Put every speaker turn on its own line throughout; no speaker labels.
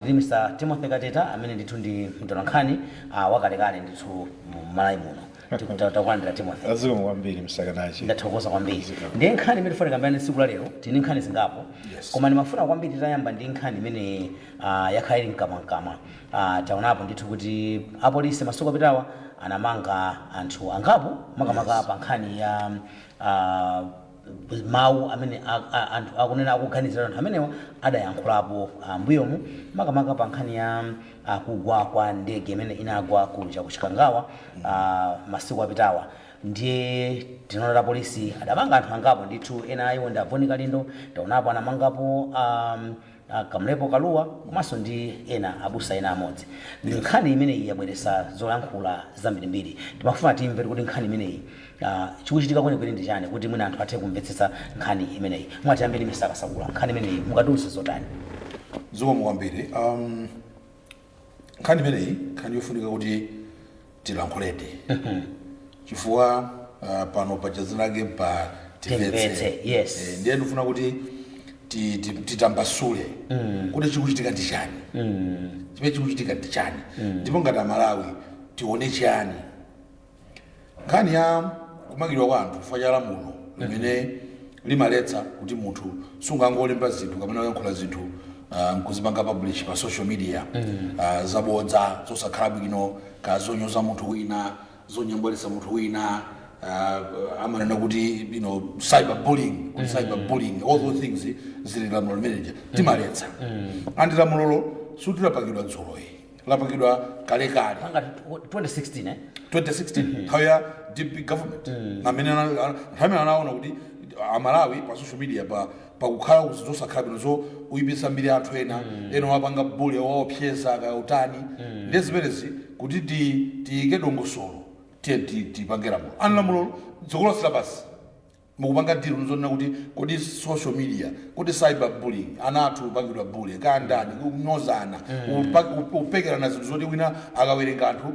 Ndi Mr Timothy Kateta amene ndithu ndi mtolankhani wakalekale ndithu mu Malawi muno. Tiku ta- Tikulandirani Timothy. Zikomo kwambiri Mr.
Kadachi. Ndathokoza kwambiri. Zikomo.
Ndiye nkhani imene tifuna tikambirane tsiku la lero, tili ndi nkhani zingapo. Yes. Koma ndimafuna kwambiri titayamba ndi nkhani imene ah, yakhala ili mkamwamkamwa. Ah, taonapo ndithu kuti apolisi masiku apitawa anamanga anthu angapo makamaka Yes. pa nkhani ya ah, mawu amene anthu akunena akuganizira anthu amenewa adayankhulapo m'mbuyomu makamaka pa nkhani ya kugwa kwa ndege imene inagwa kuja ku Chikangawa masiku apitawa ndiye tinaona kuti apolisi adamanga anthu angapo ndithu ena a iwo ndi a Bon Kalindo taonapo anamangapo a a Kamlepo Kalua komanso ndi ena abusa ena amodzi. Nkhani imeneyi yabweresa zoyankhula zambirimbiri. Timafuna timve kuti nkhani imeneyi a chikuchitika kwenikweni ndi chani kuti mwina anthu athe kumvetsetsa nkhani imeneyi. Mwina tiyambe ndi Mr. Kasakula, nkhani imeneyi mungatiuze zotani? Zikomo
kwambiri. nkhani imeneyi nkhani yofunika kuti tilankhuledi chifukwa ah, pano pachazinake pa Timvetse, yes. Eh, ndiye
ndifuna
kuti ti- ti- titambasule kuti chikuchitika ndi chani chimene chikuchitika ndi chani ndipo ngati amalawi tione chani nkhani ya kumangidwa kwa anthu chifukwa cha lamulo limene limaletsa kuti munthu sungangolemba zinthu kapena kuyankhula zinthu ah, nkuzipanga publish pa social media ah, zabodza zosakhala bwino ka zonyoza munthu wina zonyambwalisa munthu wina ah, amanena kuti you know, cyberbullying kuti cyberbullying all those things zili mu lamulo limeneja limaletsa and lamulolo sikuti lapangidwa dzuloyi lapangidwa kalekale 2016 eh 2016 nthawi ya dpp government amene ana- ana- nthawi imene anaona kuti amalawi pa social media pakukhala zi zosakhala bwino zowayipitsa mbiri anthu ena ena kuwapanga bully kuwaopseza kaya kutani ndiye zimenezi kuti ti- tiyike dongosolo tiye ti- tipange lamulo and lamulolo dziko lonse lapansi akupanga deal nzonena kuti kodi social media kodi cyber bullying anthu kupangidwa bully kaya kutani kunyozana kupa- ku- kupekerana zinthu zoti wina akawerenga anthu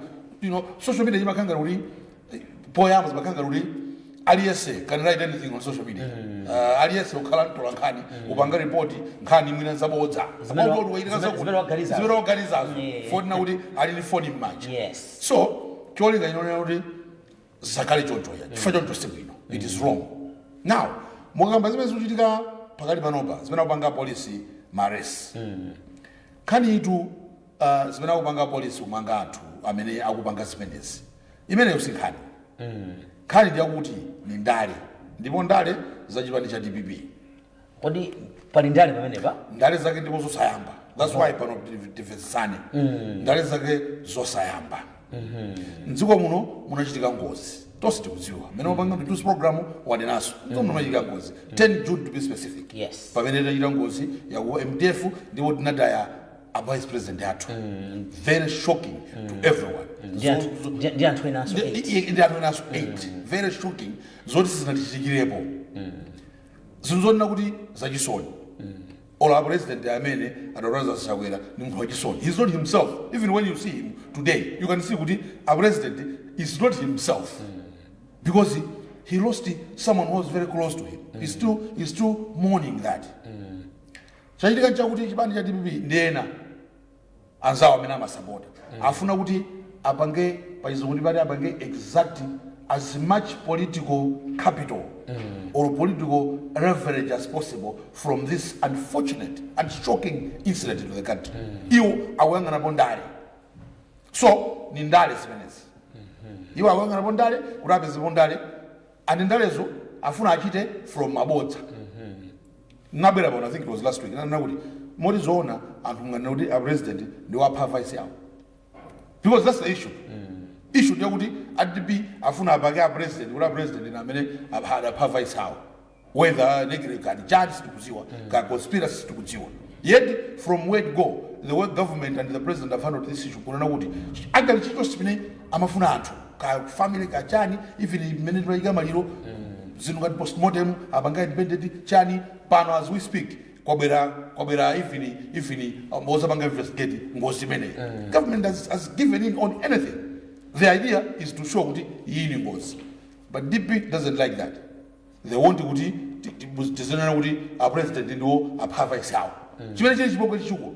you know social media zimakhala ngati eh, poyamba zimakhala ngati aliyense can write anything on social media uh, aliyense kukhala mtolankhani kupanga ripoti nkhani mwina zabodza Zimene wa- Kodi waitikaza zimene- kuti- zimene waganizazo. zimene waganizazo Yeah. fukwa kuti ali ndi foni m'manja yes so cholinga chonena kuti zisakhale chonchoyi chifukwa choncho si bwino it is wrong now mukakamba zimene zikuchitika pakali panopa zimene akupanga polisi ma arrest nkhani iyitu uh, zimene akupanga polisi kumanga anthu amene akupanga zimenezi imeneyo si nkhani nkhani ndiyakuti ni ndale ndipo ndale za chipani cha dpp
kodi pali ndale pamenepa ndale zake ndipo
zosayamba that's why pano tiv- timvetsetsane ndale zake zosayamba mdziko muno munachitika ngozi tonse tikudziwa mmene wapanga mtusi wa program wanenaso mdziko muno munachitika ngozi 10 june to be specific Yes. pamene inachita ngozi yaku mdf ndipo tinataya a vice president athu very shocking to everyone Ndi
anthu- Zo- zo- ndi- ndi anthu enanso ndi eight. ndi- ndi anthu enanso 8
very shocking zoti sizinachitikirepo zinthu zonena kuti zachisoni olo a president amene a doctor Lazarus chakwera ndi munthu wachisoni he's not himself even when you see him today you can see kuti a president is not himself because he lost someone who was very close to him he's still, he's still mourning that chachitika nchakuti chipani cha dpp ndi ena anzawo amene amasapota afuna kuti apange pachizungu timati apange extract as much political capital or political leverage as possible from this unfortunate and shocking incident to the country iwo akuyang'anapo ndale so ni ndale zimenezi iwo akuyang'anapo ndale kuti apezepo ndale and ndalezo afuna achite from mabodza nabwera pano i think it was last week ndinanena kuti moti zoona anthu munganena kuti a president ndiwo apha vice awo because that's the issue issue ndiyo kuti a dp afuna apake a president kuti a president ndi amene apha- adapha vice awo whether negligence kaya ndi chani sitikudziwa ka conspiracy sitikudziwa yet from word go the way government and the president have handled this issue kunena kuti apanga chilichonse chimene amafuna anthu ka family ka chani even mmene taika maliro zinthu ngati postmortem apanga independent chani pano as we speak kwabwera kwabwera even even um, ozapanga investigate ngozi imeneyi government has, has given in on anything the idea is to show kuti iyi ni ngozi but dp doesn't like that they want kuti ti- ti- tizinena kuti a president ndiwo apha vice awo chimene chili chipongwe chachikulu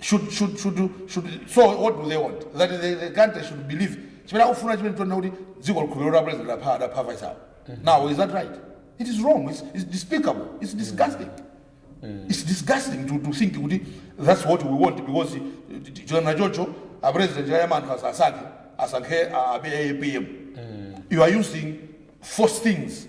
should should should should so what do they want that the, the country should believe chimene akufuna chimene tona kuti dziko likhulupirira kuti president apha adapha vice awo now is that right it is wrong it's, it's despicable it's disgusting it's disgusting to, to think kuti that's what we want because chona chocho a president chayama anthu asasankhe asankhe a- a- apm you are using false things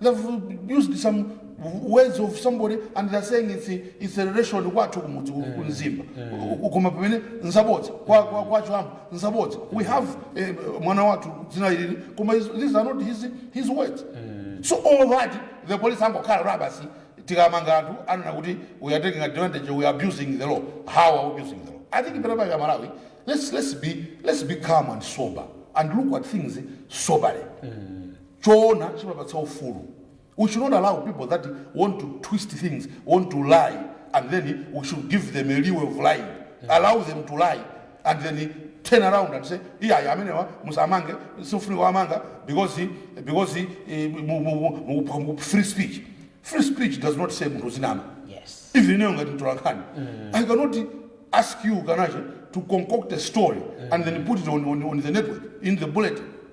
They've used some words of somebody and they're saying it's, it's a relation kwathu kumudzi ku- ku Mzimba. Ku- Koma pamene nzabodza kwa kwa kwa Chiwambo nzabodza. We have eh, mwana wathu dzina ili koma is- these are not his his words. So all that the police angokhala basi tikamanga anthu anena kuti we are taking advantage we are abusing the law. How are we abusing the law? I think pena pake aMalawi let's let's be let's be calm and sober and look at things soberly. choona chimapatsa ufulu u should not allow people that want to twist things want to lie and then we should give them a leeway of lying allow them to lie and then turn around and say iyayi amenewa musamange sifunika wamanga because because eh, mu- mu- mu- mu- mu- free speech free speech does not say munthu zinama yes even ineyo
ngati mtolankhani
i cannot ask you kanacho to concoct a story and then put it on, on, on the network in the bulletin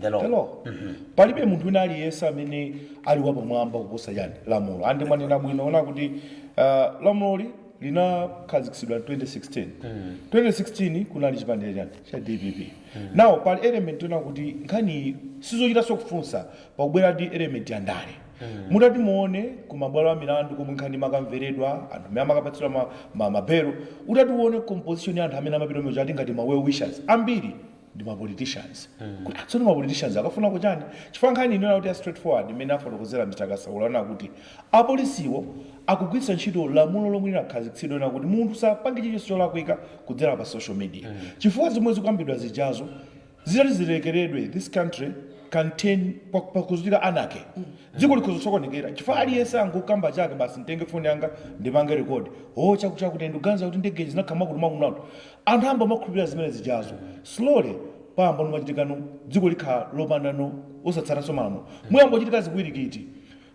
The law. the law palibe munthu wina aliyense amene ali wapamwamba kuposa chani lamulo ande mwanena bwino wona kuti uh, lamuloli linakhazikitsidwa 2016 2016 kunali chipani cha chani cha dpp now pali element yona kuti nkhaniyi sizochitanso kufunsa pakubwerandi element ya ndale mutati muone ku mabwalo a milandu komwe nkhani imakamveredwa anthu amene amakapatsidwa ma- ma- mabelo utati uone composition ya anthu amene amapita mujamo ati ngati ma well wishers ambiri ndi ma politicians tsono ma politicians akafuna kuchani chifukwa nkhani yonena kuti ya straight forward imene afotokozera Mr Kasakula na kuti apolisiwo akugwiritsa ntchito lamulo lomwe linakhazikitsidwa na kuti munthu sapange chilichonse cholakwika kudzera pa social media chifukwa zomwe zikukambidwa zijazo zitati zilekeredwe this country can turn pa- pakuchitika anarchy dziko likhoza kusokonekera chifukwa aliyense angokamba chake basi nditenge foni yanga ndipange rekodi yo chakutichakuti ndikuganiza kuti ndege zinakhala mwakuti mwakuti mwakuti Anthu ayamba kumakhulupilira zimene zijazo slowly payamba no kumachitika no dziko likhala lopanda no osatsatanso malamulo muyamba kuchitika zipwirikiti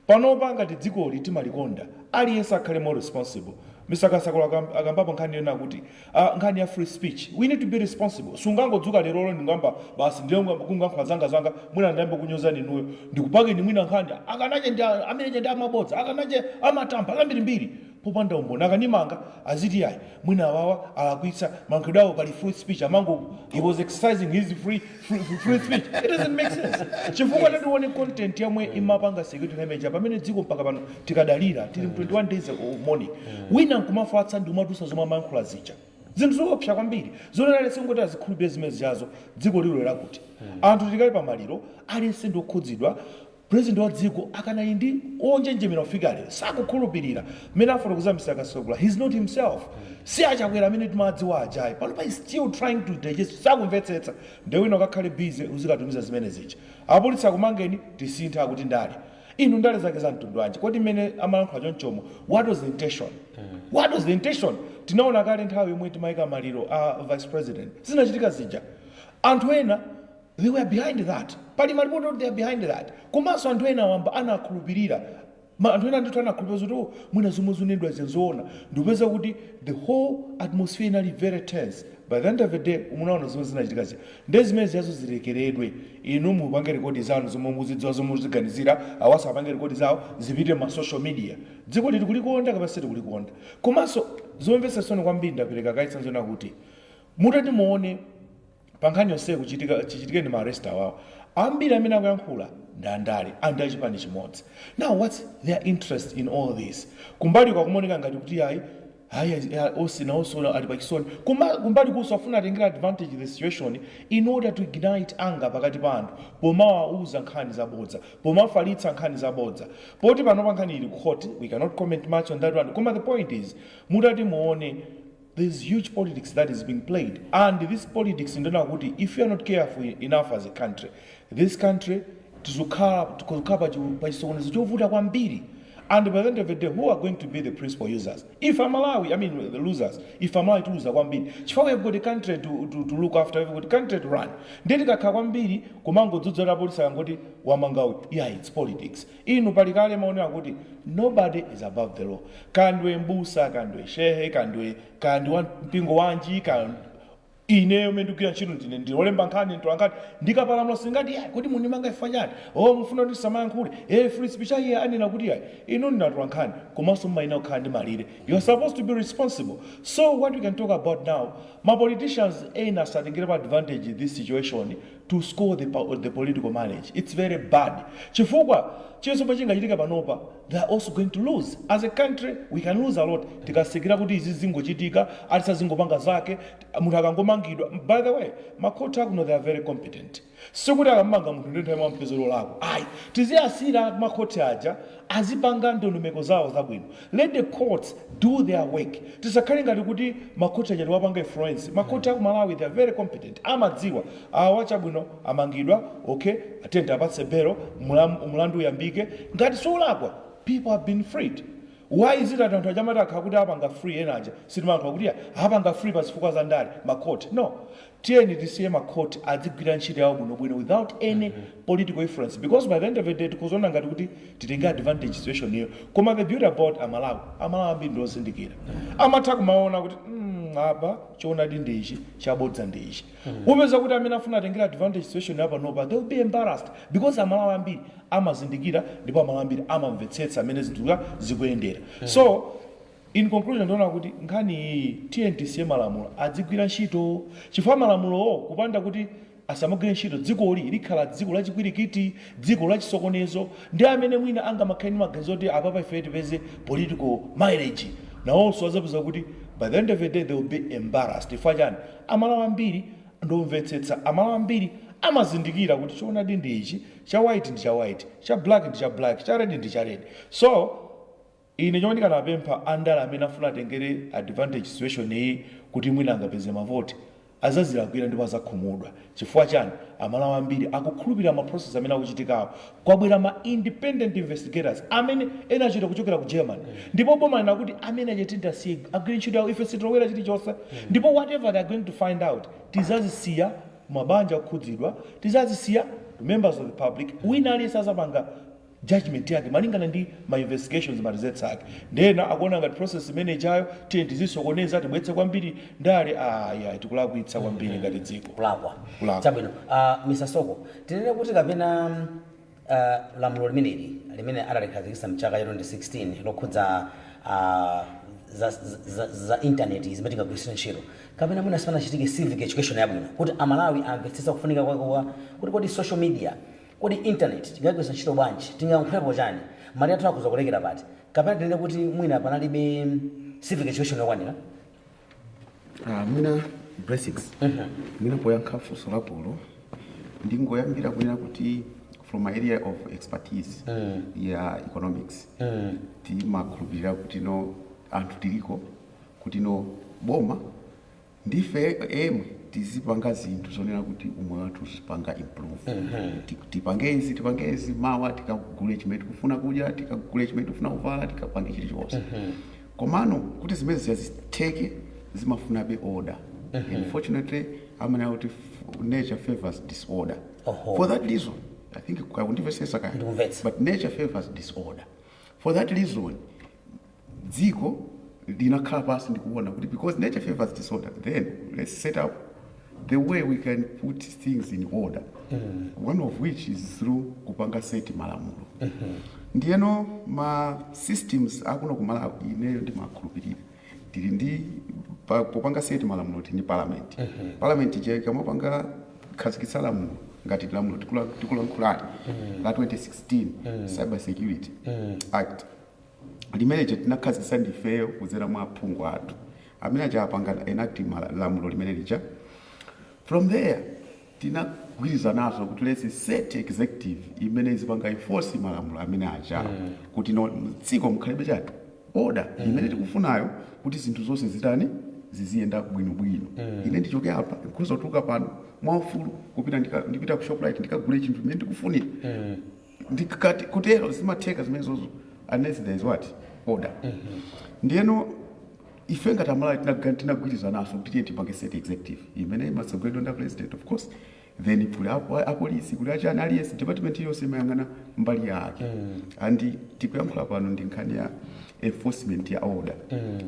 panopa ngati dzikoli timalikonda aliyense akhale more responsible Mr kasakula akam akambapo nkhani yonena kuti ah nkhani ya free speech we need to be responsible sungangodzuka lero ndingoyamba basi ndiye kungamba kungankhula zanga zanga mwina ndiyambe kukunyozani inuyo ndikupakeni mwina nkhani akanache ndi a amene aja ndi amabodza akanache amatamba zambirimbiri popanda umboni akandimanga aziti yayi mwina awawa alakwitsa mayankhulidwe awo pali free speech amangoti he was exercising his free, free, free, free speech it doesn't make sense chifukwa tatione content yomwe imapanga security damage pamene dziko mpaka pano tikadalira tili mu 21 days of mourning wina nkumafatsa ndi kumatusa zomwe amayankhula zija zinthu zoopsa kwambiri zonena aliyense angoti azikhulupirira zimene zijazo dziko lilowera kuti anthu tikali pamaliro aliyense ndi okhudzidwa President wa dziko akanali ndi onjenjemera kufika lero sakukhulupilira mmene afotokozera Mr Kasakula he is not himself si a Chakwera amene timawadziwa ajayi panopa he is still trying to digest sakumvetsetsa nde wina ukakhale busy uzikatumiza zimene zija apolisi akumangeni tisinthe kuti ndale inu ndale zake za mtundu wanji kodi mmene amalankhula chonchomo what was the intention what was the intention tinaona kale nthawi yomwe timayika maliro a vice president zinachitika zija anthu ena They were behind that. Pali malipoti oti they are behind that. Komanso anthu ena wamba anakhulupirira. Anthu ena ndithu anakhulupirira zoti oh mwina zomwe zikunenedwazi nzoona. Ndikupeza kuti the whole atmosphere inali very tense. By the end of the day munaona zomwe zinachitika zija. Nde zimene zijazo zilekeredwe. Inu mupange rekodi zanu zomwe mukuzidziwa zomwe mukuziganizira, awanso apange rekodi zawo zipite mma social media. Dzikoli tikulikonda kapena sitikulikonda. Komanso zomvetsa chisoni kwambiri ndapereka kaye chitsanzo chonena kuti mutati muone pankhani yonseyi chichitikireni ma arrest awawa ambiri amene akuyankhula ndi andale ndi achipani chimodzi now whats their interest in all this kumbaliku akumaoneka ngati kuti ayi ayi ayi, onse nawonso ali pachisoni Kuma- kumbalikunso afuna atengera advantage the situation in order to ignite anger pakati pa anthu pomawauza nkhani zabodza pomafalitsa nkhani zabodza poti panopa nkhani ili ku court we cannot comment much on that one koma the point is mutati muone there is huge politics that is being played and this politics ndiona kuti if we are not careful enough as a country this country tizokhala tizokhala pa chi- pa chisokonezo chovuta kwambiri and by the end of the day who are going to be the principal users ife amalawi i mean the losers ife amalawi tiluza kwambiri chifukwa we have got a country to, to, to look after we have got a country to run ndiye tikakhala kwambiri kumangodzudzula apolisi akangoti amanga uyu yeah it's politics Inu pali kale mawu onena kuti nobody is above the law kaya ndiwe m'busa kaya ndiwe shehe kaya ndiwe kaya ndi wa mpingo wanji kaya ineyo mene ndigwira ntchito ndine ndi olemba nkhani mtola nkhani ndikapalamula sindingati yayi kodi mundimanga chifukwa chani o mufuna kuti ndisamayankhule e free speech ayi iye anena kuti yayi inu ndi atola nkhani komanso mumayenera kukhala ndi malire you are supposed to be responsible so what we can talk about now ma politicians ena asatengerepo advantage this situation to score the the political mileage its very bad chifukwa chilichonse chomwe chingachitike panopa they are also going to lose as a country we can lose a lot tikasekerera kuti izi zingochitika aliyense azingopanga zake munthu akangomangidwa by the way makhoti akuno they are very competent sikuti akammanga munthu ndiye nthawi yomweyo ampeza wolakwa ayi tiziwasiyira makhoti aja azipanga ndondomeko zawo zabwino Let the courts do their work tisakhale ngati kuti makhoti aja tiwapanga influence makhoti akumalawi they are very competent amadziwa awa chabwino amangidwa ok tiyeni tiwapatse belo mlamu mlandu uyambike ngati siolakwa people have been freed why is it that anthu aja amati akakhala kuti awapanga free ena aja sitimalankhula kuti ya awapanga free pazifukwa zandale makhoti no Tiyeni tisiye ma court adzigwira ntchito yawo bwinobwino without any political influence because by the end of the day tikhoza ona ngati kuti titengera advantage situation yo koma the beauty about a Malawi, a Malawi ambiri ndi ozindikira amatha kumaona kuti mm apa choonadi ndi ichi chabodza ndi ichi. Upeza kuti amene afuna atengera advantage situation ya panopa they will be embarrassed because a Malawi ambiri amazindikira ndipo a Malawi ambiri amamvetsetsa mmene zinthu zikuyendera so In conclusion ndiona kuti nkhani iyiyi tiyeni tisiye malamulo adzigwira ntchito chifukwa malamulowo kupanda kuti asamagwire ntchito dzikoli likhala dziko la chipwirikiti, dziko la chisokonezo ndi amene mwina angamakhale ndi maganizo oti apapa ifeyo tipeze political mileage nawonso adzapeza kuti by the end of the day they will be embarrassed chifukwa chani amalawi ambiri ndi omvetsetsa, amalawi ambiri amazindikira kuti choonadi ndi ichi, cha white ndi cha white, cha black ndi cha black, cha red ndi cha red so. Ine chomwe ndikanapempha andale amene afuna atengere advantage situation iyi kuti mwina angapeze mavoti azazilakwila ndipo azakhumudwa chifukwa chani amalawi ambiri akukhulupilira ma process amene akuchitikawo kwabwera ma independent investigators amene ena achita kuchokera ku Germany ndipo boma lanena kuti amene aja tiyeni tiasiye agwire ntchito yawo ife sitilowera chilichonse ndipo whatever they are going to find out tizadziwitsa mabanja okhudzidwa tizadziwitsa members of the public wina aliyense azapanga judgement yake malingana ndi ma investigations ma results ake nde ena akuona ngati process imene ijayo tiyeni tizisokoneza tibweretse kwambiri ndale aah yayi tikulakwitsa kwambiri ngati dziko kulakwa Kulakwa. chabwino
uh, mr soko tinene kuti kapena uh, lamulo limeneli limene adalikhazikitsa mchaka cha 2016 lokhudza uh, za, za, za intaneti mmene tingagwiritsire ntchito kapena mwina sipanachitike civic education yabwino kuti amalawi amvetsetse kufunika kwake kwa kuti kodi social media Kodi intaneti tingaigwiritse ntchito bwanji? Tingayankhulepo chani? Malire athu akhoza kulekera pati? Kapena tinene kuti mwina panalibe civic education yokwanira?
Aaa mwina Blessings, mwina poyankha funso lakolo ndingoyambira kunena kuti from my area of expertise ya economics timakhulupirira kutino anthu tiliko kutino boma, Ndife emwe tizipanga zinthu zonena kuti umoyo wathu uzipanga improve, tipange izi, tipange izi, mawa tikagule chimene tikufuna kudya, tikagule chimene tikufuna kuvala, tikapange chilichonse. Komano kuti zimene zija zitheke zimafunabe order unfortunately amanena kuti f- nature favours disorder. Oho. For that reason, I think akundimvetsetsa kaya, Ndikumvetsa. but nature favours disorder. For that reason, dziko linakhala pansi ndikunena kuti because nature favors disorder then let's set up the way we can put things in order one of which is through kupanga seti malamulo ndiyeno ma systems akuno kumalawi ineyo ndimakhulupirira tili ndi pa- popanga seti malamulo tili ndi parliament parliament ija ikamapanga khazikitsa lamulo ngati lamulo tikula- tikulankhulali la 2016 cyber security act limene lija tinakhazikitsa ndi ifeyo kudzera mwa aphungu athu, amene aja apanga enact lamulo limene lija. From there, tinagwirizananso kuti let's set executive imene izipanga enforce malamulo amene ajawo mm. kuti no, mdziko mukhalebe chani order mm. imene tikufunayo kuti zinthu zonse zitani ziziyenda bwinobwino mm. ine ndichoke apa ndikhoza kutuluka pano mwaufulu kupita ndika- ndipita ku shoprite ndikagule chinthu imene ndikufunira mm. ndikati kutero zimatheka zimenezozo unless there is what order ndiyeno ife ngati amalawi tinaga- tinagwirizananso kuti tiye tipange state executive imene imatsogoleredwa ndi president of course then kuli apo- apolisi kuli achani aliyense department iliyonse imayang'ana mbali yake and tikuyankhula pano ndi nkhani ya enforcement ya order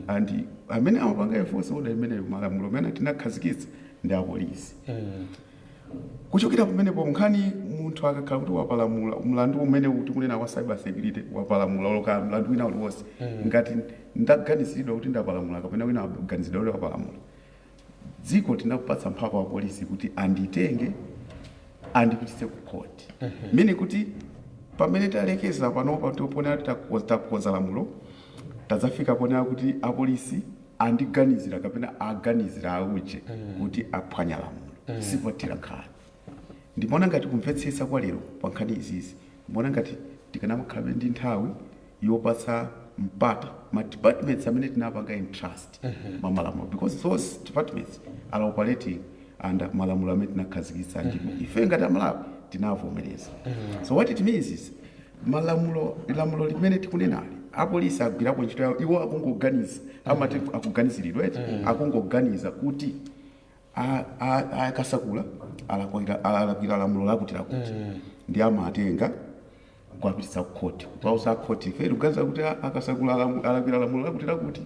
and amene amapanga enforce order imeneyo malamulo amene tinakhazikitsa ndi apolisi Kuchokera pamenepo, nkhani munthu akakhala kuti wapalamula mlandu umene tikunena wa cyber security, wapalamula olo kaya mlandu wina uliwonse, ngati ndaganiziridwa kuti ndapalamula kapena wina waganiziridwa kuti wapalamula, dziko tinapatsa mphamvu apolisi kuti anditenge andipititse ku court. Meaning kuti pamene talekeza panopa ndi ponena kuti takonza lamulo, tadzafika ponena kuti apolisi andiganizira kapena aganizira a uje kuti aphwanya lamulo sipothera nkhani. Ndimaona ngati kumvetsetsa kwa lero pa nkhani izizi ndimaona ngati tikanamakhalabe ndi nthawi yopatsa mpata ma departments amene tinawapanga entrust mwa malamulo because those departments are operating under malamulo amene tinakhazikitsa ndipo ife ngati a Malawi tinawavomereza. So what it means is malamulo lamulo limene tikunenali apolisi agwirako ntchito yawo iwo akungoganiza amati akuganiziridwa eti akungoganiza kuti a- a- a- a Kasakula alakwira alakwira lamulo lakuti lakuti ndi amatenga kuwapititsa kukhoti kuwauza akhoti ife tikuganiza kuti a- a Kasakula alamu- alakwira lamulo lakuti lakuti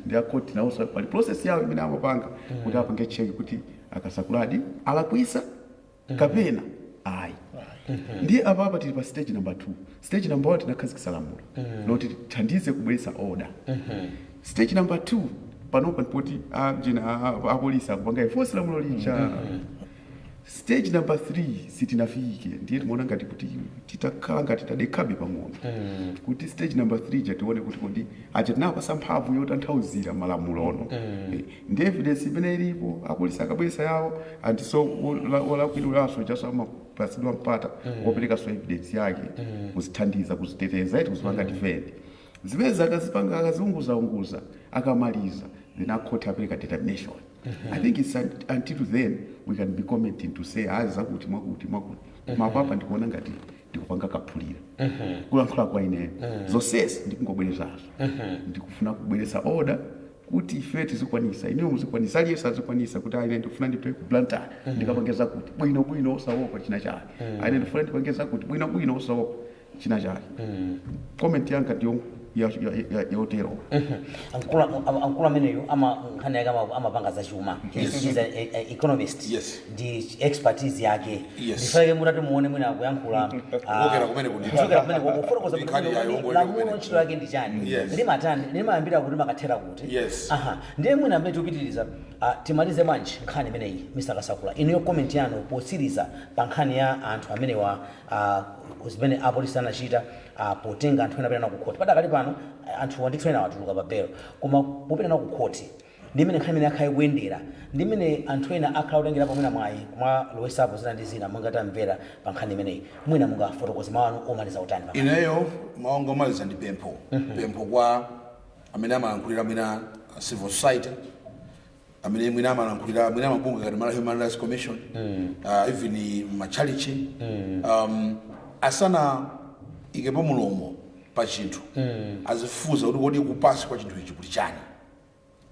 ndi akhoti nawonso pali process yawo imene amapanga kuti apange cheki kuti a Kasakuladi alakwisa kapena ayi ndiye apapa tili pa stage number 2 stage number 1 tinakhazikisa lamulo loti lithandize kubweretsa order stage number 2 panopa ndi poti a- jena a- a- apolisi akupanga enforce lamulo lija stage number 3 sitinafike ndiye timaona ngati kuti titakhala ngati tadekhabe pang'ono kuti stage number 3 ja tione kuti kodi aja tinapasa mphamvu yotanthauzira malamulo ono Eh, ndi evidence imene ilipo apolisi akabweresa yawo and so wolakwiridwaso chaso amapasidwa mpata mm. wopelekaso evidence yake mm. kuzithandiza kuziteteza eti kuzipanga mm. defend zimenezi akazipanga akaziunguzaunguza akamaliza then akhoti apeleka determination mm -hmm. i think its until then we can be commenting to say ayi ah, zakuti mwakuti mwakuti koma mm-hmm. apapa ndikuona ngati ndikupanga kaphulira mm-hmm. kulankhula kwa ineyo mm-hmm. zonsezi ndikungobwerezazo ndikufuna kubweresa order kuti ifeyo tizikwanisa, inuyo muzikwanisa, aliyense azikwanisa kuti ayi ine ndikufuna ndipite ku Blantyre ndikapange zakuti, bwinobwino osaopa chinachake. Ayi ine ndikufuna ndipange zakuti, bwinobwino osaopa chinachake. Comment yanga ndi yong- ya- ya- ya- ya- yoterowo.
Mkulu am- am- mkulu ameneyu ama- nkhani yake ama- amapanga zachuma. He's- he's an e- e- economist. Yes. ndi expertise yake Yes. ndikufuna ife mutati muone mwina akuyankhula ah, Kuchokera kumene kuti- kuchokera kumene kuti kufotokoza Ndi nkhani kuti yayo, ngodziwa lamulo kumene. ntchito yake ndi chani Yes. limatani limayambira kuti limakathera kuti Yes. aha ndiye mwina mmene tikupitiriza ah, timalize bwanji nkhani imeneyi Mr Kasakula inuyo comment yanu potsiriza pa nkhani ya anthu amenewa ah, zimene apolisi anachita ah, potenga anthu ena apita nawo ku khoti padakali pano ah, anthuwa ndithu ena watuluka pa belo koma popita nawo ku khoti Ndi mmene nkhani imeneyi yakhala ikuyendera, ndi mmene anthu ena akhala akutengerapo mwina mwayi kumalowetsapo zina ndi zina monga tamvera pa nkhani imeneyi, mwina mungafotokoze mawu anu omaliza otani pa nkhani imeneyi? Ineyo mawu
anga omaliza ndi pempho, pempho kwa amene amalankhulira mwina a Civil Society, amene mwina amalankhulira mwina mabungwe ngati Malawi Human Rights Commission, ah, even matchalitchi, um, asanaikepo mulomo pa chinthu, azifufuza kuti kodi kunsi kwa chinthu ichi kuli chani.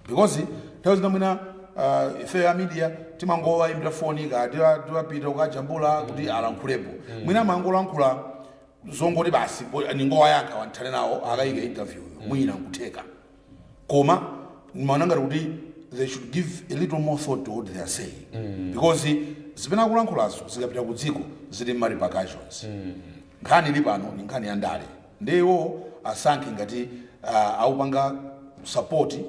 because nthawi zina mwina uh, ife ya media timangowayimbira foni ka tiwa- tiwapita ukajambula kuti alankhulepo mwina amangolankhula zongoti basi bo- ningowayankha athane nawo akayike interview mwina nkutheka koma ndimaona ngati kuti they should give a little more thought to what they are saying because zimene akulankhulazo zikapita ku dziko zili ndi ma repercussions nkhani ili pano ni nkhani ya ndale Ndiye iwo asankhe ngati akupanga support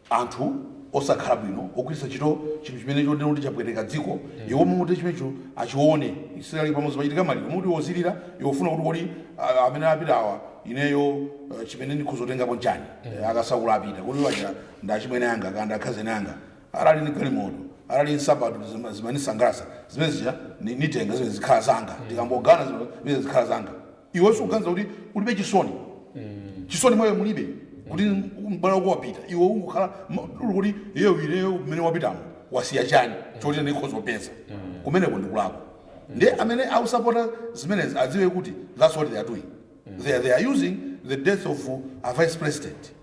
anthu osakhala bwino ogwiritsa ntchito chinthu chimene chonena kuti chapweteka dziko, iwo muti chimenecho achiona. It's like pamudzi pachitika maliro mmalo moti iwe uzilira? Iwe ufunsa kuti kodi amene apita awa ineyo chimene ndikhoza kutengapo nchani a Kasakula apita? Kodi iwo aja ndi achimwene anga kaya ndi akhazeni anga? Anali ndi galimoto, anali ndi nsapato zimanisangalasa zimene zija nitenga zimene zikhala zanga, tikangogawana zimene zikhala zanga. Iwe sukuganiza kuti ulibe chisoni? Chisoni mwa iwe mulibe kuti mbale wako wapita. Iwe ungokhala ma- uli kuti iyeyo ineyo mmene wapitamo wasiya chani choti ine ndikhoza kupeza. Kumeneko ndikulakwa. Ndiye amene akusapota zimenezi adziwe kuti that's what they are doing. They are, they are using the death of a vice president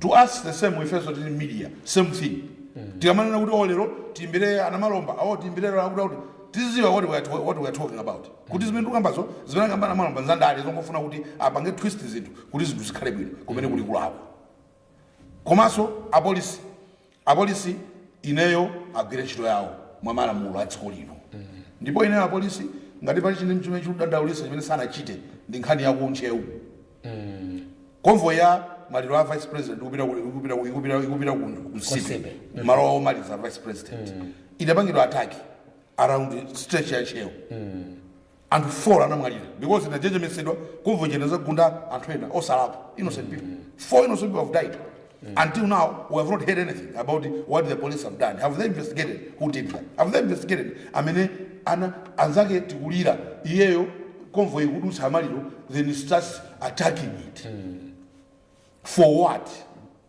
to us the same ifenso tili media same thing tikamanena kuti oh lero tiimbire a Namalomba oh tiimbire lero akuti akuti tiziziwa what we are, to- what we are talking about kuti zimene tikambazo zimene akamba a Namalomba nzandale zongofuna kuti apange twist zinthu kuti zinthu zikhale bwino kumeneko ndi kulakwa komanso apolisi Apolisi ineyo agwire ntchito yawo mwamalamulo a dziko lino ndipo ineyo apolisi ngati pali chinthu chimene chikundidandaulitsa chimene sanachite ndi nkhani ya ku Ntcheu convoy ya maliro a vice president ikupita ku- ikupita ku- ikupita ikupita ku ku Nsipe Nsipe. malo awo omaliza a vice president idapangidwa attack around stretch ya Ntcheu anthu 4 anamwalira because inajejemetsedwa convoy njena zagunda anthu ena osalakwa innocent people four innocent people have died until now we have not heard anything about what the police have done have they investigated who did that have they investigated amene anzake tikulira iyeyo convoy ikudutsa amaliro then he starts attacking it for what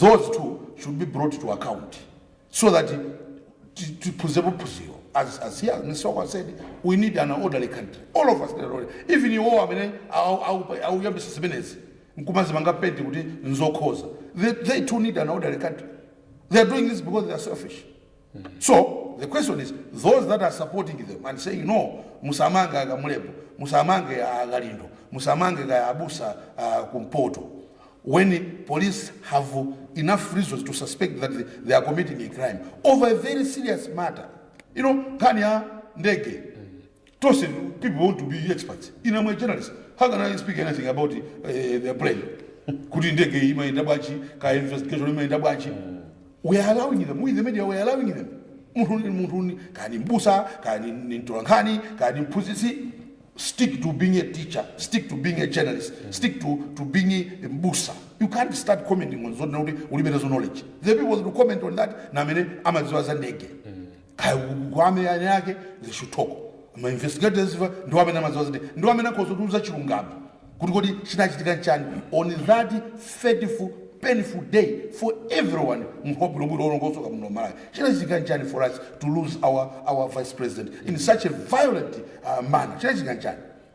those two should be brought to account so that ti- tiphunzepo phunziro as as here Mr. Wako said we need an orderly country all of us need an orderly- even iwo amene au- au- auyambisa zimenezi nkumazimanga penti kuti nzokhoza they, they too need an orderly country they are doing this because they are selfish so the question is those that are supporting them and saying no musamange akamulepo musamange akalindo musamange kaya abusa uh, kumpoto when police have enough reasons to suspect that they, they are committing a crime over a very serious matter you know nkhani ya ndege Tonse people want to be experts. In a journalist, how can I speak anything about uh, eh, their brain? Kuti ndege hii maenda bwachi, ka investigation hii maenda bwachi. We are allowing them, we the media we are allowing them. Mtu ni mtu ni, kani mbusa, kani ni mtolankani, kani mpuzisi. Stick to being a teacher, stick to being a journalist, mm. stick to, to being a mbusa. You can't start commenting on zone, ulibeta zo knowledge. The people who comment on that, na mene, amaziwa za ndege. Mm. Kwame ane ake they should talk ma investigators iwo ndiwo amene amadziwa izi ndiwo amene akhoza kutiuza chilungamo kuti kodi chinachitika nchani on that fateful painful day for everyone munthu wabwinobwino olongosoka muno malawi chinachitika nchani for us to lose our, our vice president in such a violent uh, manner chinachitika nchani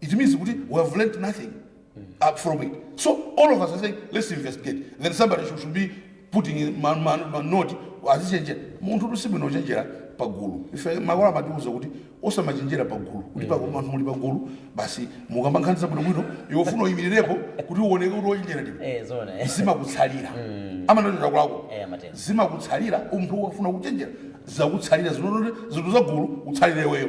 it means kuti we have learned nothing uh, from it so all of us are saying let's investigate then somebody should, should be putting in ma, ma, ma note azichenjera munthu kuti sibwino kuchenjera pagulu ife makolo amatiuza kuti osamachenjera pagulu kuti pa- anthu muli pagulu basi mukamba nkhani zabwinobwino iwe ufuna uyimirirepo kuti uoneke kuti wochenjera ndipo eh zona eh zimakutsalira amanatero kwako eh matenda zimakutsalira munthu wafuna kuchenjera zakutsalira zinonote zinthu zagulu utsalire iweyo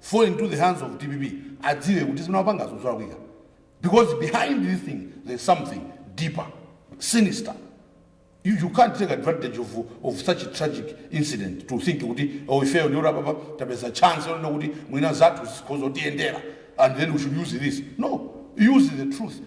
fall into the hands of dpp adziwe kuti zimene wapangazo zolakwika because behind this thing there's something deeper sinister you, you can't take advantage of, of such a tragic incident to think kuti oh, ifeyo ndiyo apapa tapeza chance yonena kuti mwina zathu zikhoza kutiyendera and then we should use this no use the truth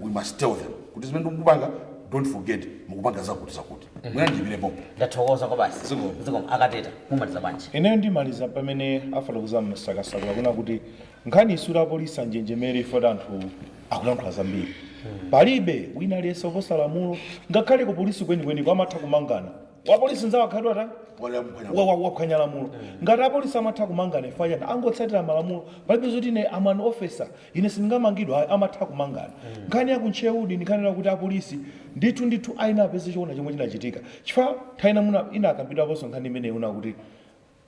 we must tell them kuti zimene mukupanga don't forget mukupanga zakuti zakuti muyandikire
pompo ndathokoza kwabasi Zikomo. zikomo akateta mumaliza bwanji ineyo ndimaliza pamene
afotokozera msakasakula kuna kuti nkhani isura apolisi anjenjemere ifoti anthu akulankhula zambiri palibe wina aliyense oposa lamulo ngakhale ku polisi kwenikweni amatha kumangana wapolisi nzawo akakhala ta wa- wa- waphwanya lamulo ngati apolisi amatha kumangana ifayana angotsatira malamulo palibe zoti ine am an ofesa Ine sindingamangidwe ayi amatha kumangana nkhani ya ku Ntcheu ndi nkhani yonena kuti apolisi ndithu ndithu ayenera apeze choona chomwe chinachitika chifukwa nthawi ina mwina inakambidwaponso nkhani imeneyi yonena kuti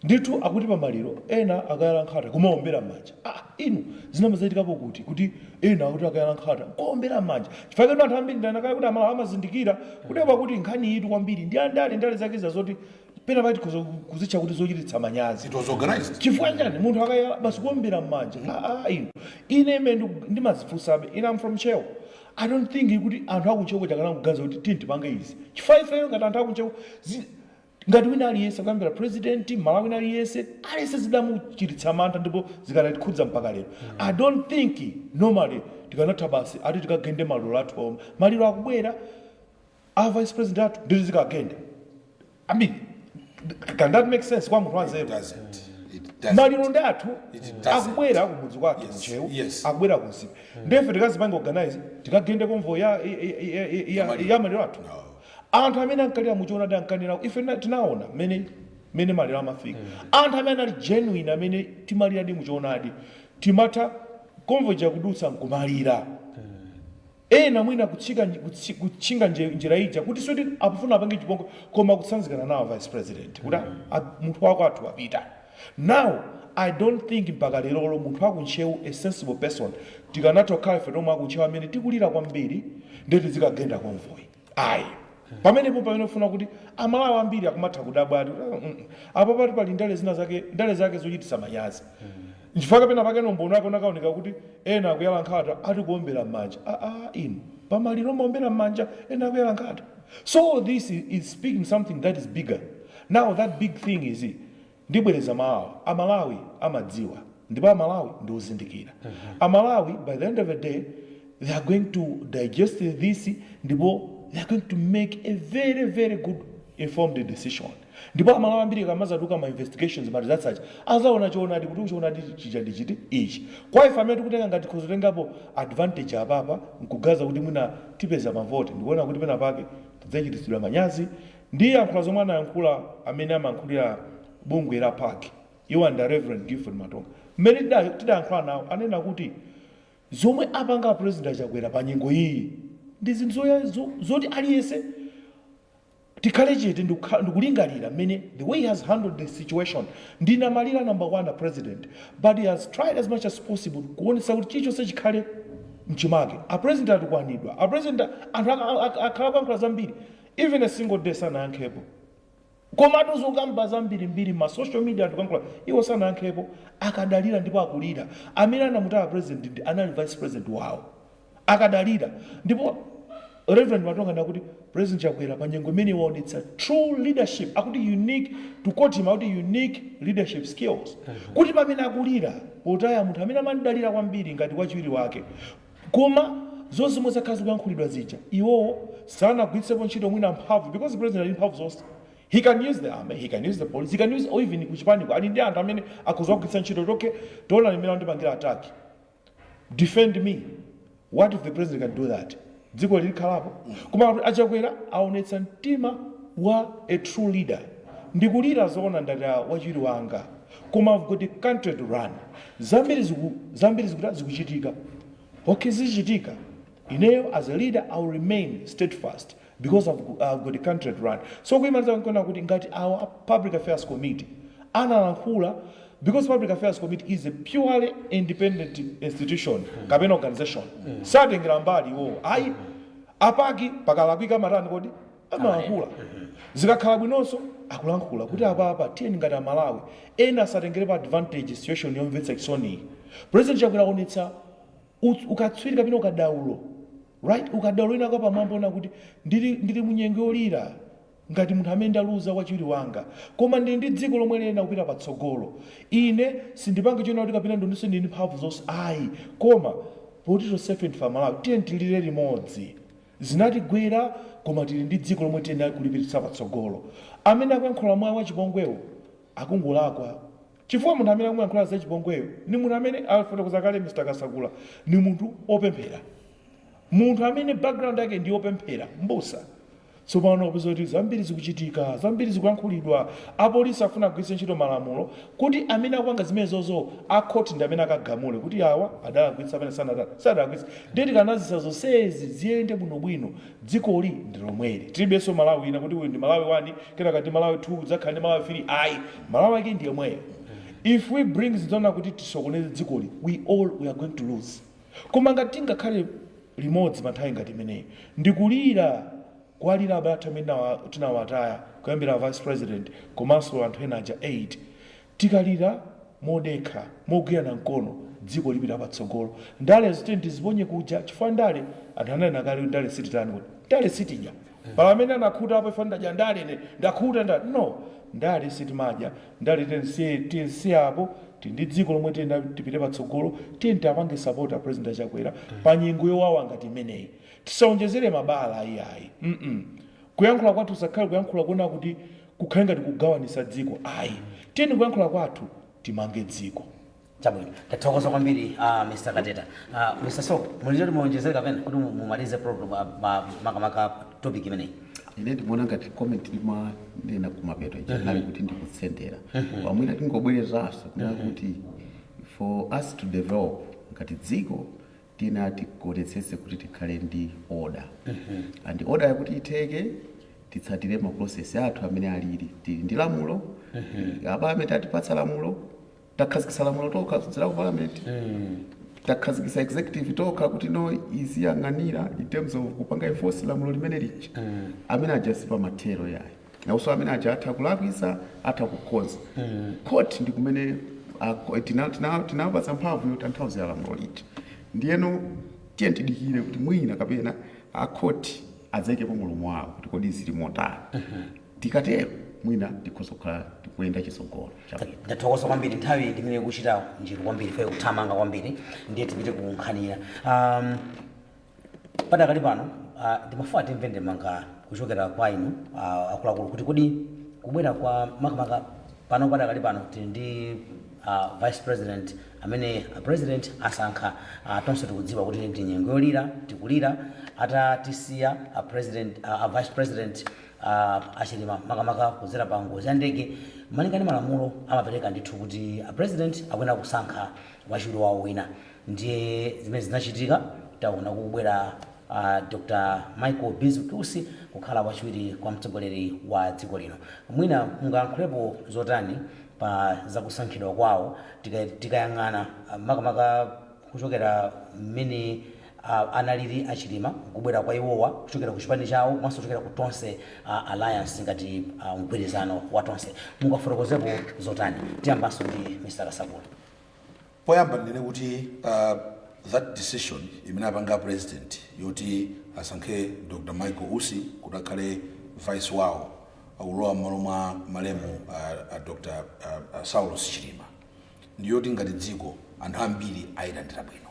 ndithu akuti pa maliro ena akayala nkhata kumaombera m'manja ah inu zinayamba zachitikapo kuti kuti ena akuti akayala nkhata nkuombera m'manja chifukwa choti anthu ambiri ndanena kale kuti amalawi amazindikira kuti apa kuti nkhaniyitu kwambiri ndi andale ndale zake zija zoti pena pake tikhoza ku- kuzitcha kuti zochititsa manyazi It was organized. chifukwa chani munthu akayala basi kuombera mmanja aa inu ine imene ndiku- ndimazifunsabe ine am from Ntcheu i don't think kuti anthu aku Ntcheu akanatha kuganiza kuti tini tipange izi chifukwa ifeyo ngati anthu aku Ntcheu zi- ngati wina aliyense kuyambira president malawi wina aliyense aliyense zidamuchititsa mantha ndipo zikadatikhudza mpaka lero i don't think normally tikanatha basi ati tikagende maliro athu omwe maliro akubwera a vice president athu ndi tizikagenda i mean can that make sense kwa munthu wanzeru maliro ndi athu akubwera kumudzi kwathu ku Ntcheu akubwera ku Nsipe ndefe tikazipange organize tikagende convoy ya maliro athu anthu amene ankalira muchoonadi ankalira ife tinaona mmene maliro amafika anthu amene anali genuine amene timaliradi muchoonadi timati convoy ija ikudutsa nkumalira Ena mwina kutchinga njira ija kuti sikuti akufuna apange chipongwe koma kutsanzikana nawo vice president kuti munthu wakwathu wapita. Now I don't think mpaka lerolo munthu waku Ntcheu a sensible person tikanatha kukhala ife tomwe aku Ntcheu amene tikulira kwambiri ndiye tidzikagenda convoy. ayi pamenepo pamene ukuona kuti amalawi ambiri akumatha kudabwa ati "Ah, mm, mm." apapa ati pali ndale zina zake ndale zake zochititsa manyazi nchifukwa chake penapake nombono zake zinakaoneka kuti ena akuyala nkhata ati kuombera m'manja aa inu pamaliro amaombera m'manja ena akuyala nkhata so this is speaking something that is bigger now that big thing is Ndibwereza mawu awa, Amalawi amadziwa ndipo Amalawi ndi ozindikira. Amalawi by the end of the day they are going to digest this ndipo they are going to make a very very good informed decision. Ndipo Amalawi ambiri akamadzatuluka ma investigations, ma results aja adzaona choonadi kuti choonadi chija ndi chiti, ichi. Kwa ife amene tikutenga ngati tikhoza kutengapo advantage apapa n'kuganiza kuti mwina tipeza mavoti ndikuona kuti penapake tidzachititsidwa manyazi Ndiyankhula zomwe anayankhula amene amayankhulira bungwe la PAC iwo ndi a Reverend Gifford Matonga mmene tidayankhula nawo ananena kuti zomwe apanga a President a Chakwera pa nyengo iyiyi ndi zinthu zoti aliyense tikhale chete ndikulingalira mmene the way he has handled the situation ndi namfedwa number one a President but he has tried as much as possible kuonetsetsa kuti chilichonse chikhale mchimake. A President atukwanidwa, a President anthu akhala akuyankhula zambiri. Even a single day sanayankhepo komatu zokamba zambirimbiri mma social media anthu kuyankhula iwo sanayankhepo akadalira ndipo akulira amene anamutaya president ndi anali vice president wawo akadalira ndipo Rev Matonga akuti president Chakwera pa nyengo imeneyi waonetsa true leadership akuti unique to quote him akuti unique leadership skills kuti pamene akulira potaya munthu amene amamdalira kwambiri ngati wachiwiri wake Koma zonse zomwe zakhala zikuyankhulidwa zija iwowo sanagwiritsepo ntchito mwina mphamvu because president ali ndi mphamvu zonse. He can use the army, he can use the police, he can use or even kuchipaniko ali ndi anthu amene akhoza kugwiritsa ntchito kuti okay taonani mmene andipangira attack. Defend me. What if the president can do that? Dziko ili likhalapo. Koma a Chakwera aonetsa mtima wa a true leader. Ndikulira zoona ndataya wachiwiri wanga. Koma I've got a country to run. Zambiri ziku zambiri zikuta zikuchitika ok zichitika ineyo as a leader I will remain steadfast because I've go I've got a country to run so kuimaliza nkunena kuti ngati awa a public affairs committee analankhula because public affairs committee is a purely independent institution kapena organization satengera mbali iwowo ayi apaki pakalakwika amatani kodi amalankhula zikakhala bwinonso akulankhula kuti apapa tiyeni ngati amalawi ena asatengerepo advantage situation yomvetsa chisoniyi president chakwera aonetsa uts- ukatswiri kapena ukadaulo right ukadaulo wina wapamwamba wonena kuti ndili, ndili munyengo yolira ngati munthu amene ndaluza wachiwiri wanga koma ndili ndi dziko lomwe liyenera kupita patsogolo ine sindipange chonena kuti kapena ndinedi ndili ndi mphamvu zonse ayi koma poti tonsefe ndife amalawi tiyeni tilire limodzi Zinatigwera koma tili ndi dziko lomwe tiyenera kulipititsa patsogolo. Amene akuyankhula mwachipongwewo akungolakwa chifukwa munthu amene akumuyankhula zachipongweyo ndi munthu amene afotokoza kale Mr Kasakula ndi munthu opemphera. Munthu amene background yake ndi yopemphera, mbusa. Tsopano wapeza kuti zambiri zikuchitika, zambiri zikuyankhulidwa, apolisi afuna agwiritse ntchito malamulo kuti amene akupanga zimenezozo a khoti ndi amene akagamule kuti awa adalakwitsa pena sanatani, sadalakwitse. Ndiye tikanazisiya zonsezi ziyende bwino bwino dzikoli ndilomweli tilibenso Malawi ina kuti uyu ndi Malawi 1 kenaka ndi Malawi 2 kudzakhala ndi Malawi 3 ayi Malawi wake ndiyemweyo if we bring zinthu zonena kuti tisokoneze dzikoli we all we are going to lose koma ngati tingakhale limodzi pa nthawi ngati imeneyi ndikulira kuwalira abale athu amene tinawa tinawataya kuyambira a vice president komanso anthu ena aja 8 Tikalira modekha, mogwirana mkono dziko lipita patsogolo. Ndalezo tiyeni tiziponye kuja chifukwa ndale anthu ananena kale kuti ndale sititani kodi? Ndale sitidya. Pali amene anakhutapo chifukwa ndadya ndale ine, ndakhuta ndale. No! Ndale sitimadya, ndale tiyeni tisiye, tiyeni tisiye apo, tili ndi dziko lomwe tiyenera tipite patsogolo, tiyeni tiapange support a President a Chakwera pa nyengo yowawa ngati imeneyi. Tisaonjezere mabala iyayi mm kuyankhula kwathu kusakhale kuyankhula konena kuti kukhale ngati kugawanisa dziko ayi tiyeni kuyankhula kwathu timange dziko.
Chabwino, tathokoza kwambiri a ah, Mr. Kateta. Uh, ah, Mr. Soko, muli ndi zoti muonjezere kapena kuti mumalize program ah, makamaka topic imeneyi. Ine ndimaona
ngati comment ndimanena kumapeto ija mhm. inali kuti ndikutsendera. Mhm. Pamwina tingobwereranso kunena mhm. kuti for us to develop ngati dziko tiyenera tikaonetsetse kuti tikhale ndi order and order-yo kuti itheke titsatire ma process athu amene alili tili ndi lamulo a parliament atipatsa lamulo takhazikitsa lamulo tokha kudzera ku parliament takhazikitsa executive tokha kuti no iziyang'anira in terms of kupanga enforce lamulo limene lija amene aja sipamathero yayi Nawonso amene aja atha kulakwitsa atha kukhoza court ndikumene a- tina- tina- tinawapatsa mphamvu yotanthauzira lamulo lija ndiyeno tiyeni tidikire kuti mwina kapena a court adzaikepo mulomo wawo kuti kodi zili motani tikatero mwina tikhoza kukhala tikuyenda chitsogolo chabwino ndathokoza kwambiri
nthawi ndimene ikuchita njiru kwambiri ikuthamanga kwambiri ndiye tipite ku nkhani ina um, Padakali pano ah, ndimafuna timve ndemanga kuchokera kwa inu ah, akuluakulu kuti kodi kubwera kwa makamaka pano padakali pano tili ndi ah, vice president amene a president asankha ah, tonse tikudziwa kuti ndi nyengo yolira tikulira atatisiya ah, president ah, ah, vice president ah, a Chilima makamaka kudzera pa ngozi ya ndege malinga ndi malamulo amapereka ndithu kuti a president akuyenera kusankha wachiwiri wawo wina Ndiye zimene zinachitika, taona kukubwera a Dr Michael Bizwick Usi kukhala wachiwiri kwa mtsogoleri wa dziko lino. Mwina mungayankhulepo zotani pa zakusankhidwa kwawo tika- tikayang'ana ah, makamaka kuchokera mmene ah, analili a Chilima kubwera kwa iwowa kuchokera ku chipani chawo komanso kuchokera ku Tonse ah, Alliance ngati ah, mgwirizano wa Tonse. Mungafotokozepo zotani? Tiyambanso ndi Mr. Kasakula.
Poyamba ndinene kuti that decision imene apanga a president yoti asankhe Dr Michael Usi kuti akhale vice wawo akulowa mmalo mwa malemu a Dr Saulos Chilima ndiyoti ngati dziko anthu ambiri ayilandira bwino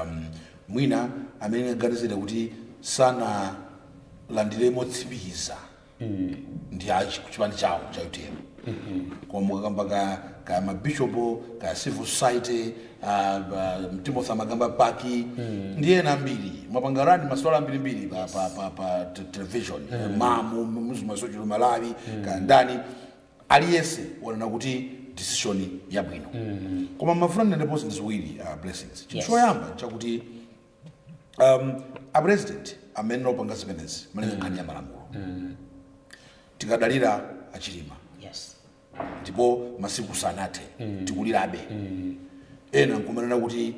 um, mwina amene ndingaganizire kuti sanalandire motsimikiza ndi a chi- chipani chawo cha utm koma mukakamba ka, ka mabishop ka civil society ah, ba- timothy mukakamba PAC ndi ena ambiri mwapanga rani maswala ambirimbiri pa, pa, pa, pa te- television mamu muzimasochero malawi ka ndani aliyense wanena kuti decision yabwino koma ndimafuna ndinenepo zinthu ziwiri ah, Blessings chinthu Yes. choyamba chakuti um, a president amene opanga zimenezi malinga nkhani ya malamulo tikadalira a Chilima yes ndipo masiku sanathe tikulirabe ena nkumanena kuti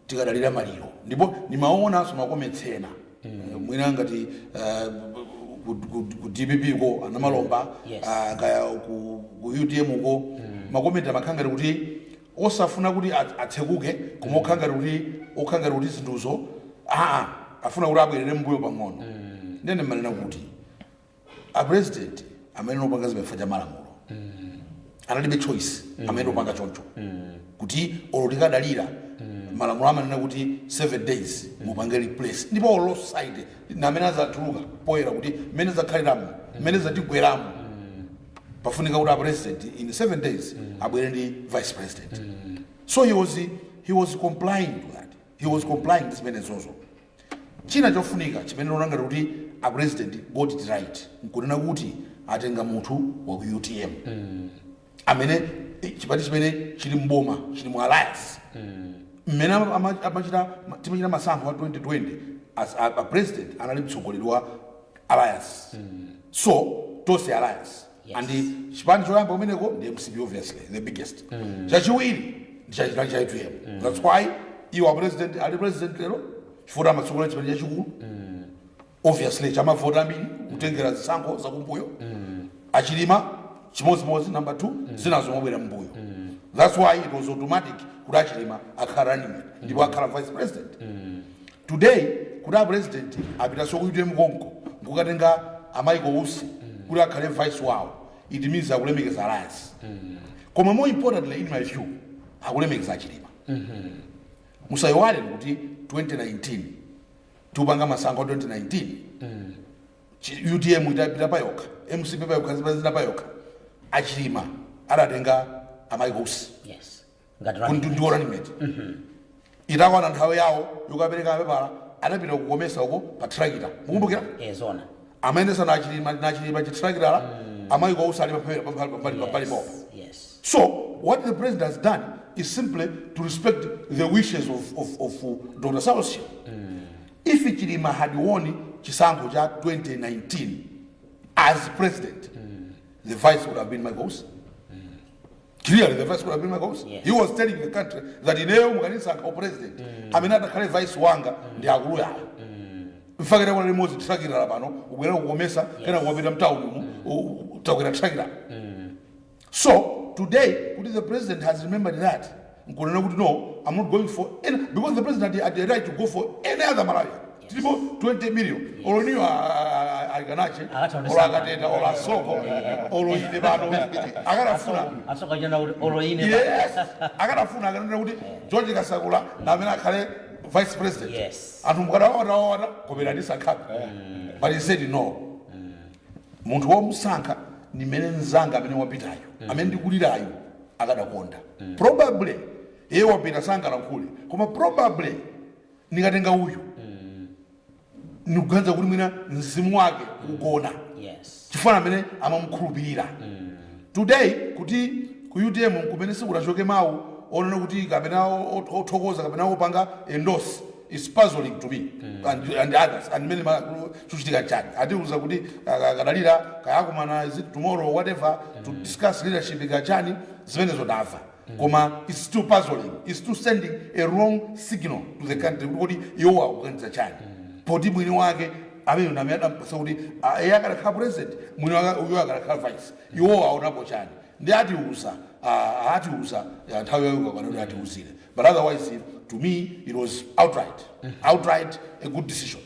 tikadalira maliro ndipo ndimaonanso makomentsi ena Eh, mwina ngati eh, ku- ku- ku dpp ko a Namalomba Yes. ah, kaya ku ku utm ko makomenti amakhala ngati kuti osafuna kuti atsekuke koma okhala ngati kuti okhala ngati kuti zinthuzo aa afuna kuti abwerere mbuyo pang'ono ndene mmanena kuti a president amangopanga chifukwa cha malamulo analibe choice amangopanga choncho kuti olo tikadalira malamulo amanena kuti 7 days mupange replace ndipo olo society ndi amene adzatuluka poyera kuti mmene zakhaliramo mmene zatigweramo pafunika kuti a president in seven days abwere ndi vice president so he was, he was complying to that he was complying ndi zimenezozo china chofunika chimene ndikuona ngati kuti a president got it right nkunena kuti atenga munthu wa ku utm amene eh, chipani chimene chili mboma chili mu alliance mmene ama- ama- amachita timachita masankho a 2020 as a, a president anali mtsogoleri wa alliance so tonse alliance Yes. and chipani choyamba kumeneko ndi mcp obviously the biggest chachiwiri ndi chachikulu cha utm that's why iwo apresident ali president lero chifukwa amatsogolera chipani chachikulu obviously chamavota ambiri kutengera zisankho zakumbuyo achilima chimodzimodzi number two zinazo m'mabwera mbuyo that's why it was automatic kuti achilima akhala running mate ndipo akhala vice president today kuti a president apitaso ku utm konko nkukatenga a michael usi kuti akhale vice wawo it means akulemekeza alliance koma more importantly in my view akulemekeza achilima musayiwale kuti 2019 tikupanga masankho 2019 Chi- utm itapita payokha mcp payokha zipani zina payokha achilima adatenga a michael usi yes Ngati running Kundu- ndi wa running mate itakwana nthawi yawo yokapereka mapepala anapita kukomesa uko pa thirakitala mukumbukira eh zona
amayendetsa ndi
achilima ndi achilima chithirakitala a michael usi ali pambalipo yes yes so what the president has done is simply to respect the wishes of, of, of uh, dr saulos if chilima had won chisankho cha 2019 as president the vice would have been michael usi Clearly, the vice would have been michael usi, Yes. he was telling the country that ineyo mukanisankha u president amene atakhale vice wanga ndi akulu awa nchifukwa chake takwera limodzi thirakitala pano kubwera kukomesa kena kumapita mtawuni umu takwera thirakitala so today kuti the president has remembered that nkunena kuti no i'm not going for any because the president had, had the right to go for any other malawi tilipo 20 million olo inuyo a Likanache olo a Kateta olo a Soko olo ine pano akanafuna a Soka Jana
olo ine yes akanafuna
akanena kuti george kasakula ndi amene akhale vice president Yes. anthu mukadawawatawawata kobera ndasankhapo but he said no munthu womusankha ndi amene mzanga amene wapitayo amene ndikulirayo akadakonda probably iye wapita sangalankhule koma probably ndikatenga uyu ndikuganiza kuti mwina mzimu wake ugona Yes. chifukwa ndi amene amamukhulupirira today kuti ku utm kumene sikunachoke mawu onena kuti kapena o- o- othokoza kapena opanga endorse is puzzling to me and, and others and many ma- chikuchitika chani atiuza kuti aka- akadalira kaya akumana is it tomorrow whatever to discuss leadership ndi kachani zimenezo ndamva koma its still puzzling, its still sending a wrong signal to the country kuti kodi iwowo akuganiza chani poti mwini wake ameneyo ndi amene adampatsa kuti ah, iye akadakhala president mwini wake uyo akadakhala vice iwowo aonapo chani ndi atiuza ah, atiuza ah, nthawi yawo ikakwana kuti atiuzire but otherwise to me it was outright outright a good decision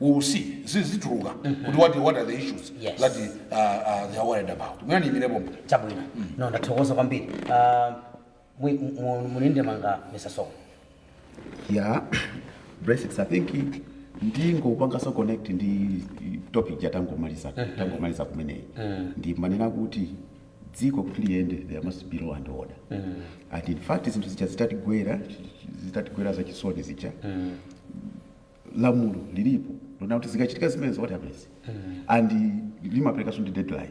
we will see zizituluka mm -hmm. kuti what, what are the issues yes. that uh, uh, they are worried about mwina ndiyimire pompo chabwino mm.
no ndathokoza kwambiri uh, muli ndi ndemanga mr soko yeah
basically i think ndingopanganso connect ndi topic ya tangomaliza mm -hmm. tangomaliza kumeneyi mm. ndimanena kuti dziko kuti liyende there must be law and order mm. and in fact zinthu zija zitatigwera zitatigwera zachisoni zija mm. lamulo lilipo lonena kuti zikachitika zimenezo what happens and limaperekanso ndi deadline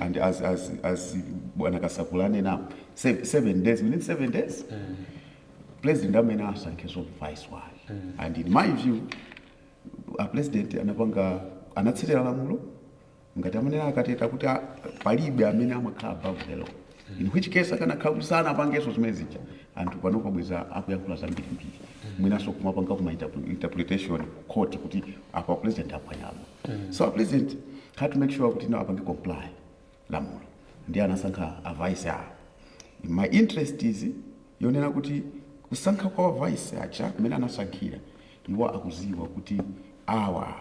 and as, as, as bwana kasakula anenapo se- seven days within seven days president ayenera asankhenso vice wake and in my view a president anapanga anatsatira lamulo ngati amanena a Kateta kuti a- palibe amene amakhala above the law in which case akanakhala kuti sanapangenso zimene zija anthu panopa bweza akuyankhula zambirimbiri mwinanso kumapanga ma interpre- interpretation ku court kuti apa president aphwanyamo so a president had to make sure kuti no apange comply lamulo ndiye anasankha a vice awo my interest is yonena kuti kusankha kwa a vice aja amene anasankhira iwo akuziwa kuti awa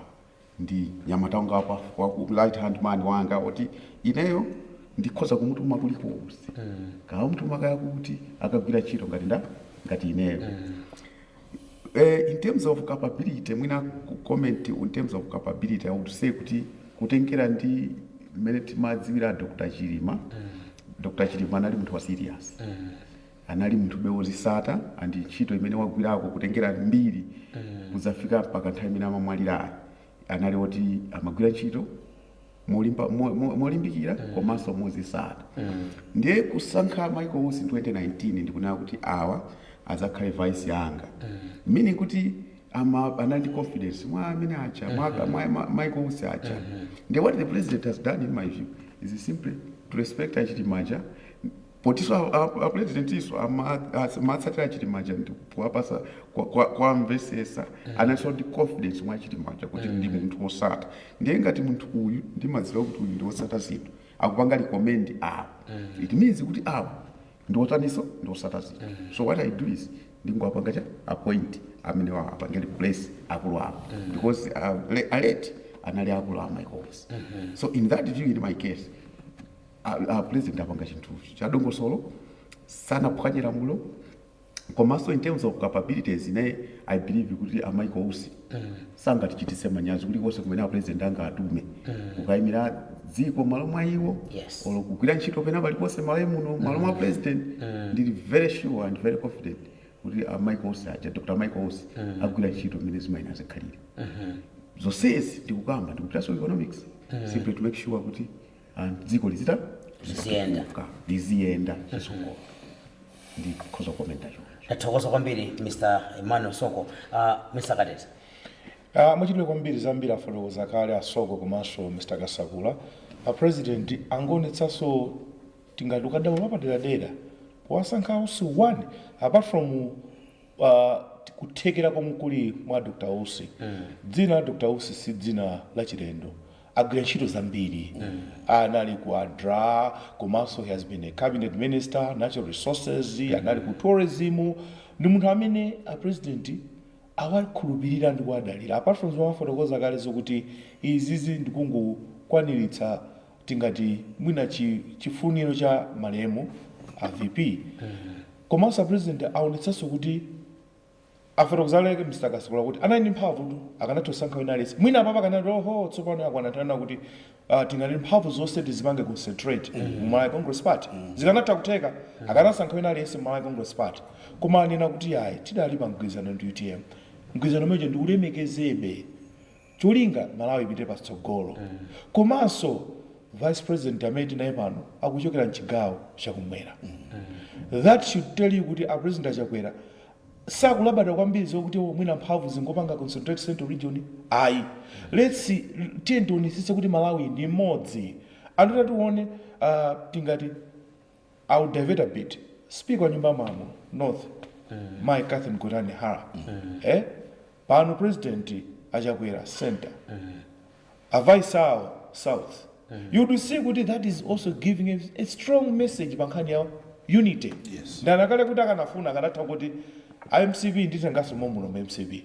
ndi mnyamata wanga wapa waku right hand man wanga woti ineyo ndikhoza kumutuma kulikonse kamutuma kaya kuti akagwire ntchito ngati nda ngati ineyo eh, in terms of capability mwina ku- comment in terms of capability i would say kuti kutengera ndi mmene timadziwira dr chilima dr chilima anali munthu wa serious anali munthube wozisata ndi ntchito imene wagwirako kutengera mbiri kudzafika mpaka nthawi imene amamwalirayi anali oti amagwira ntchito molimba mo- mo- molimbikira komanso mozisata ndiye kusankha Michael Usi 2019 ndi kunena kuti awa adzakhale vice anga meaning kuti ama anali ndi confidence mwa amene acha mwa, mwa, mwa Michael Usi acha ndiye what the president has done in my view is simply to respect a Chilima aja potinso a presidentinso amatsatira Chilima aja ndikuwapasa kuwamvetsetsa analinso ndi confidence mwa Chilima aja kuti ndi munthu wosata ndiye ngati munthu uyu ndimadziwa kuti uyu ndi wosata zinthu akupanga recommend awa it means kuti awa ndi otaninso ndi wosata zinthu so what i do is ndingowapanga cha appoint amene apange replace akulu awo because uh, le- aleti anali akulu a Michael Usi so in that view in my case A, a president apanga chinthu cha dongosolo, sanaphwanye lamulo komanso in terms of capabilities ne i believe kuti a Michael Usi sangatichititse manyazi kulikonse kumene a president angatume kukayimira dziko malo mwa iwo Yes. olo kugwira ntchito pena paliponse malawi muno malo mwa president ndili very sure and very confident kuti a Michael Usi aja Dr. Michael Usi agwira ntchito imene zimayenera zikhalire zonsezi ndikukamba ndi kupitanso economics simply to make sure kuti and dziko lizita Liziyenda. kuka, liziyenda chizungu ndikhoza kukomenta choncho tathokoza
kwambiri mr emmanuel soko uh, mr kadeti Ah, muchitire
kwambiri zambiri afotokoza kale a Soko komanso mr kasakula a president angoonetsanso tingati ukadaulo wapaderadera powasankha a Usi 1 apart from uh, kuthekera komwe kuli mwa dr usi dzina la dr usi si dzina lachilendo agwira ntchito zambiri anali ku adra komanso he has been a cabinet minister natural resources anali ku tourism ndi munthu amene a president awakhulupirira ndi kuwadalira apart from zomwe afotokoza kale zokuti izizi ndikungokwaniritsa tingati mwina chi- chifuniro cha malemu a vp komanso a president aonetsanso kuti Afotokoza kale Mr Kasakula kuti anali ndi mphamvutu akanatha kusankha wina aliyense mwina apapa akanati oho tsopano yakwana nthawi yonena kuti ah, tingali ndi mphamvu zonse tizipange concentrate mu Malawi Congress Party zikanatha kutheka akanasankha wina aliyense mu Malawi Congress Party koma anena kuti ayi tidali pa mgwirizano ndi utm mgwirizano umenewo ndiulemekezebe Cholinga Malawi ipite patsogolo komanso vice president amene tinaye pano akuchokera mchigawo chakumwera that should tell you kuti a president a Chakwera sakulabada kwambiri zokuti oh mwina mphamvu zingopanga concentrate central region ayi let's tiyeni tionetsetse kuti Malawi ndi imodzi and tatione uh, tingati I will divert a bit. Speaker wa nyumba ya malamulo North Mai Catherine Gotani Hara eh? pano president achakwera center a vice awo south you'd see kuti that is also giving a, a strong message pa nkhani ya unity Yes. ndanakale kuti akanafuna akanatha kuti a mcp nditenganso momuno mu mcp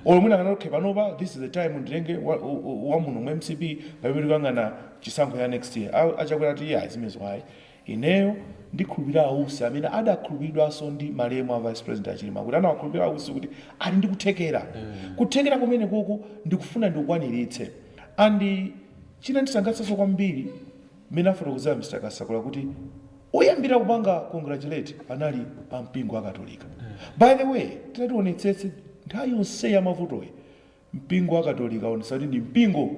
Olo mwina akanati okay panopa this is the time nditenge wa, wa, wa muno mu mcp pamene tikuyang'ana chisankho cha next year. A, a Chakwera ati iyayi zimenezo ayi. Ineyo ndikhulupirira a Usi amene adakhulupiridwanso ndi malemu a Vice President a Chilima kuti anawakhulupirira a Usi kuti ali ndi kuthekera. Kuthekera kumenekoko ndikufuna ndikukwaniritse. And china chondisangalatsanso kwambiri, Mmene afotokozera Mr Kasakula kuti oyambira kupanga congratulate anali a mpingo wa Katolika. By the way, titati tionetsetse, nthawi yonseyi ya mavutoyi, mpingo wa Katolika waonetsa kuti ndi mpingo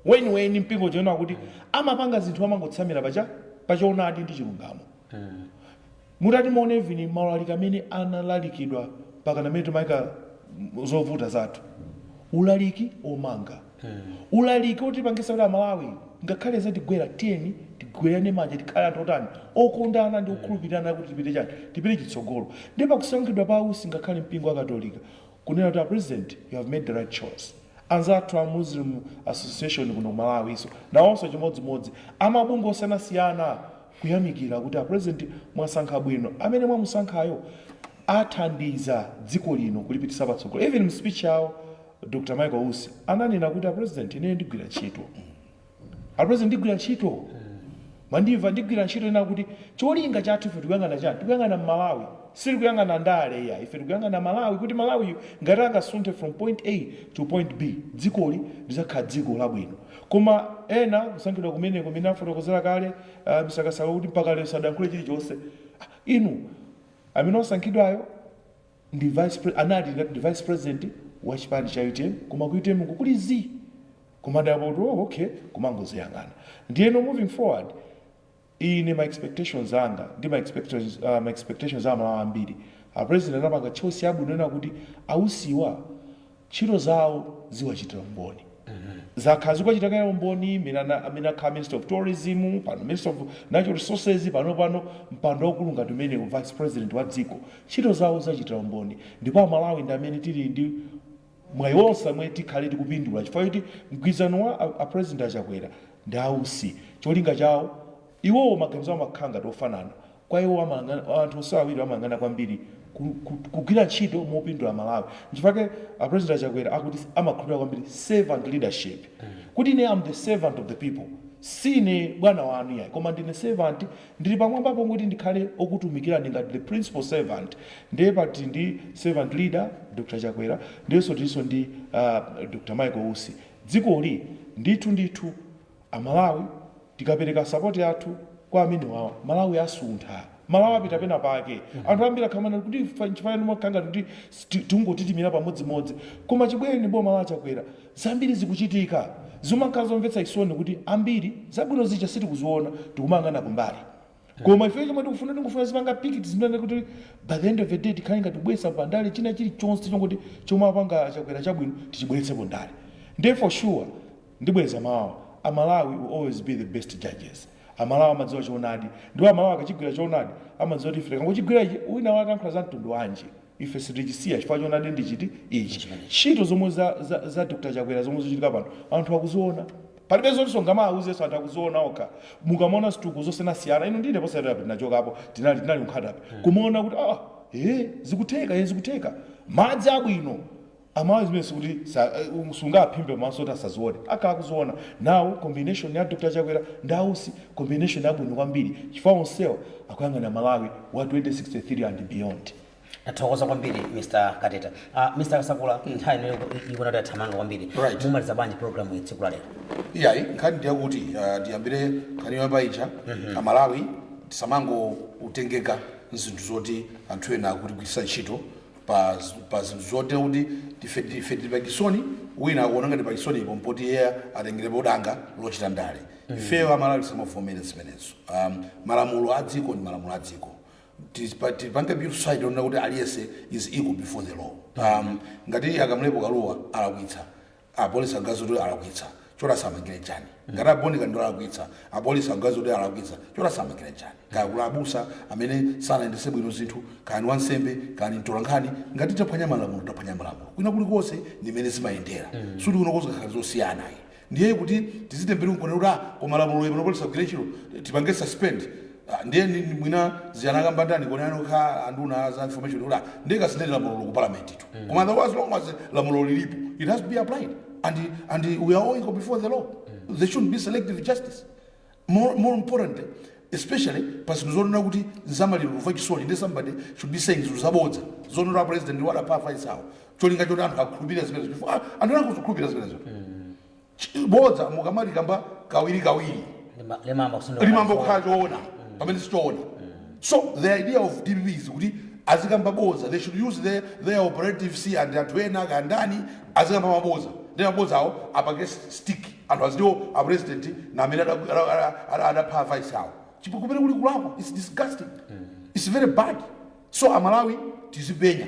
weniweni, mpingo uja wonena kuti amapanga zinthu amangotsamira pa choonadi ndi chilungamo. Mutati muone even maulaliki amene analalikidwa mpakana mmene timaika zovuta zathu, ulaliki omanga, ulaliki otipangisa kuti amalawi ngakhale zatigwera tiyeni tigwerane manja tikhale anthu otani, okondana ndi okhulupirirana kuti tipite chani, tipite chitsogolo. Nde pakusankhidwa pa ausi ngakhale mpingo wakatolika kunena kuti a president you have made the right choice. Anzathu a Muslim Association kuno ku Malawinso nawonso chimodzimodzi amabungwe osiyanasiyana kuyamikira kuti a president mwasankha bwino amene mwamusankhayo athandiza dziko lino kulipitisa patsogolo even mu speech yawo Dr Michael Usi ananena kuti a president ineyo ndigwira ntchito Apresident ndigwira ntchito mwandimva ndigwira ntchito yonena kuti cholinga chathu ife tikuyang'ana chani tikuyang'ana mmalawi sitikuyang'ana ndale iyayi ife tikuyang'ana malawi kuti malawiyu ngati angasunthe from point A to point B dzikoli lizakhala dziko labwino koma ena kusankhidwa kumeneko mmene afotokozera kale uh, Mr. Kasakula kuti mpaka lero sadayankhule chilichonse ah, inu amene wasankhidwayo ndi vice pre anali ngati ndi vice president wa chipani cha utm koma ku utm ku kuli zii kumadabwa kuti oh, okay kumangoziyang'ana ndiyeno moving forward ine ma expectations anga ndi ma expectations, uh, ma expectations a amalawi ambiri a president anapanga choice yabwino yonena kuti ausiwa Ntchito zawo ziwachitira umboni. Zakhala zikuwachitira kale umboni mmene ana, mmene akhala Minister of Tourism, pano Minister of Natural Resources, panopano mpando waukulu ngati umenewu, Vice President wa dziko. Ntchito zawo ziwachitira umboni ndipo Amalawi ndi amene tili ndi mwayi wonse amene tikhale tikupindula chifukwa choti mgwirizano wa a, a President a Chakwera ndi a Usi cholinga chawo Iwowo maganizo awo amakhala ngati ofanana. Kwa iwo amayang'ana, anthu onsewa awiriwa amayang'ana kwambiri ku, ku, kugwira ntchito mopindula Malawi. Nchifukwa chake a President a Chakwera akuti amakhulupirira kwambiri servant leadership. Kuti ine am the servant of the people. Siine bwana wanu iyayi koma ndine servant, ndili pamwambapo kuti ndikhale okutumikirani ngati the principal servant. Ndiye pano tili ndi servant leader, Dr Chakwera, ndiyenso tilinso ndi uh Dr Michael Usi. Dzikoli ndithu ndithu. Amalawi tikapereka support yathu kwa amenewawa Malawi asuntha. Malawi apita pena pake. Anthu ambiri akhala akumanena kuti nchifukwa chani mumakhala ngati kuti tikungoima pamodzimodzi. Koma chibwerere boma la Chakwera zambiri zikuchitika. Zimakhala zomvetsa chisoni kuti ambiri zabwino zija sitikuziona tikumayang'ana kumbali. Koma ifeyo chomwe tikufuna tingofuna tizipanga politics imene kuti by the end of the day tikhale ngati tikubweretsa pandale china chilichonse chongoti chomwe apanga a Chakwera chabwino tichibweretse pandale. Ndiye for sure. Ndibwereza mawuwa. A Malawi will always be the best judges. A Malawi amadziwa choonadi. Ndipo a Malawi akachigwira choonadi, amadziwa kuti ife tikangochigwira ichi, wina wake akayankhula za mtundu wanji, ife sitichisiya chifukwa choonadi ndi chiti? Ichi. Ntchito zomwe za, za, za Dr. Chakwera zomwe zikuchitika pano, anthu akuziona. Palibe zoti ungamawauzenso, anthu akuziona okha. Mukamaona zitukuko zosiyanasiyana, inu ndi ine posachedwapa tinachokapo, tinali, tinali ku Nkhata Bay. Kumaona kuti, ah, eh, zikutheka, eh, zikutheka. Madzi abwino. Amalawi zimenezi sikuti sa, sungaphimbe maso kuti asazione, akhala akuziona. Now combination ya Dr Chakwera ndi a Usi combination yabwino kwambiri chifukwa onsewa akuyang'ana Malawi wa 2063 and beyond. Tathokoza kwambiri
Mr Kateta. Uh, Mr Kasakula, nthawi ino iku- ikuona kuti yathamanga kwambiri. Right. Mumaliza bwanji program iyi tsiku la lero? iyayi
nkhani ndiyakuti ah, tiyambire nkhani yoyamba ija amalawi tisamangotengeka nzinthu zoti anthu ena akutigwiritsa ntchito pa pa zinthu zoti ife ife tili pa chisoni wina akuona ngati pa chisonipo mpoti iye atengerepo danga lochita ndale ifeyo amalawi tisamavomere zimenezo um, malamulo a dziko ndi malamulo a dziko Tipa- tipange build society yonena kuti aliyense is equal before the law um, ngati a Kamlepo Kalua alakwitsa apolisi aganiza kuti alakwitsa choti asamangire chani ngati a Bon Kalindo alakwitsa apolisi aganiza kuti alakwitsa choti asamangire chani kaya kuli abusa amene sanayendese bwino zinthu kaya ni wansembe kaya ni mtolankhani ngati taphwanya malamulo taphwanya malamulo kwina kuli konse ndi mmene zimayendera sikuti kuno kokha zikhala zosiyana ayi ndiye kuti tizitembenuka kuti ah koma lamulo limene apolisi agwire ntchito tipange suspend Ah, ndiye ndi- ndi mwina zija anakamba ndani kodi anena okha anduna za information kuti ah, ndiye kasintheni lamulolo ku parliament tu koma the as long as lamulo lilipo it has to be applied and and we are all equal before the law there shouldn't be selective justice more, more importantly especially pa zinthu zonena kuti nzamaliro kumva chisoni ndi somebody should be saying zinthu zabodza zonena president walapha vice wawo cholinga choti anthu akhulupirira zimenezo chifukwa ah, anthu anangozikhulupirira zimenezo Ch- bodza mukamalikamba kawirikawiri Lima- limayamba kukhala choona pamene sichoona so the idea of dpp is kuti azikamba boza they should use their, their operatives and anthu ena akandani azikamba maboza ndi maboza awo apange stick anthu aziti o a president na amene ada- ada- ada- ada- adapha vice awo chimene kuli kulakwa its disgusting its very bad so amalawi tizipenya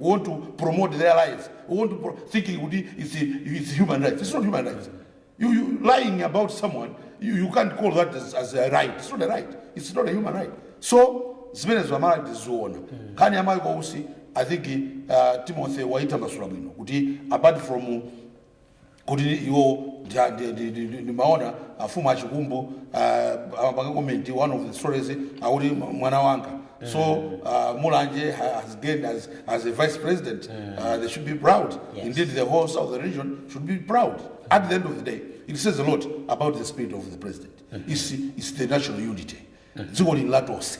we want to promote their lives we want to pro thinking kuti it's, it's human rights it's not human rights you, you lying about someone you, you can't call that as, as a right it's not a right it's not a human right so zimenezo amalawi tiziona nkhani ya mayi kwausi i think uh, timothy waitambasula bwino kuti apart from kuti iwo ndi- ndi- ndi- ndi- ndi- ndimaona a mfumu a Chikumbu uh, amapanga comment one of the stories akuti m- mwana wanga so uh, mulanje ha- has gained as, as a vice president uh, they should be proud Yes. indeed the whole southern region should be proud at the end of the day it says a lot about the spirit of the president it's, it's the national unity dziko lili la tonse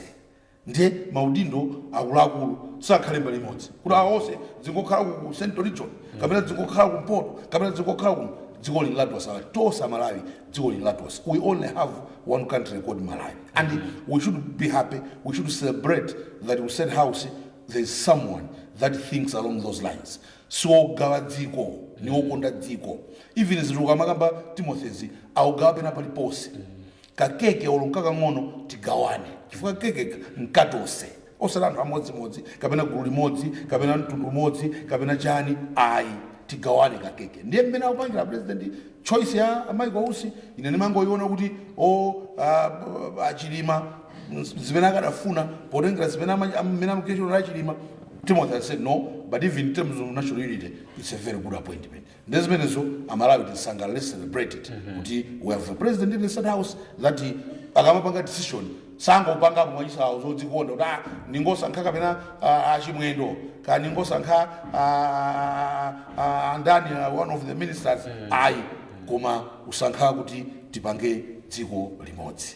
Ndiye maudindo akuluakulu sakhale mbali imodzi kuti awa onse dzingokhala ku ku central region kapena dzingokhala kumpoto kapena dzingokhala ku dziko lili la tonse a ali tonse amalawi dziko lili la tonse we only have one country called malawi and we should be happy we should celebrate that at state house there is someone that thinks along those lines siogawa dziko ni okonda dziko even zimene ukumakamba timothy akugawa pena paliponse ka keke olo nkakang'ono tigawane chifukwa kekeka nkatose osati anthu amodzimodzi kapena gulu limodzi kapena mtundu umodzi kapena chani ayi tigawane ka keke ndiye mmene akupangira president choice ya a Michael Usi ine ndimangoyiona kuti o ah, b- achilima ns- zimene akadafuna potengera zimene ama- am- mmene amachitira achilima timothy aside no but even in terms of national unity it's a very good appointment nde zimenezo amalawi tisangalale celebrate it kuti we have a president in the state house that akamapanga decision sangopangapo mwachisawawa zodzikonda kuti ah, ndingosankha kapena ah, achimwendo kaya ndingosankha ah, ah, andani ah, one of the ministers ayi koma kusankha kuti tipange dziko limodzi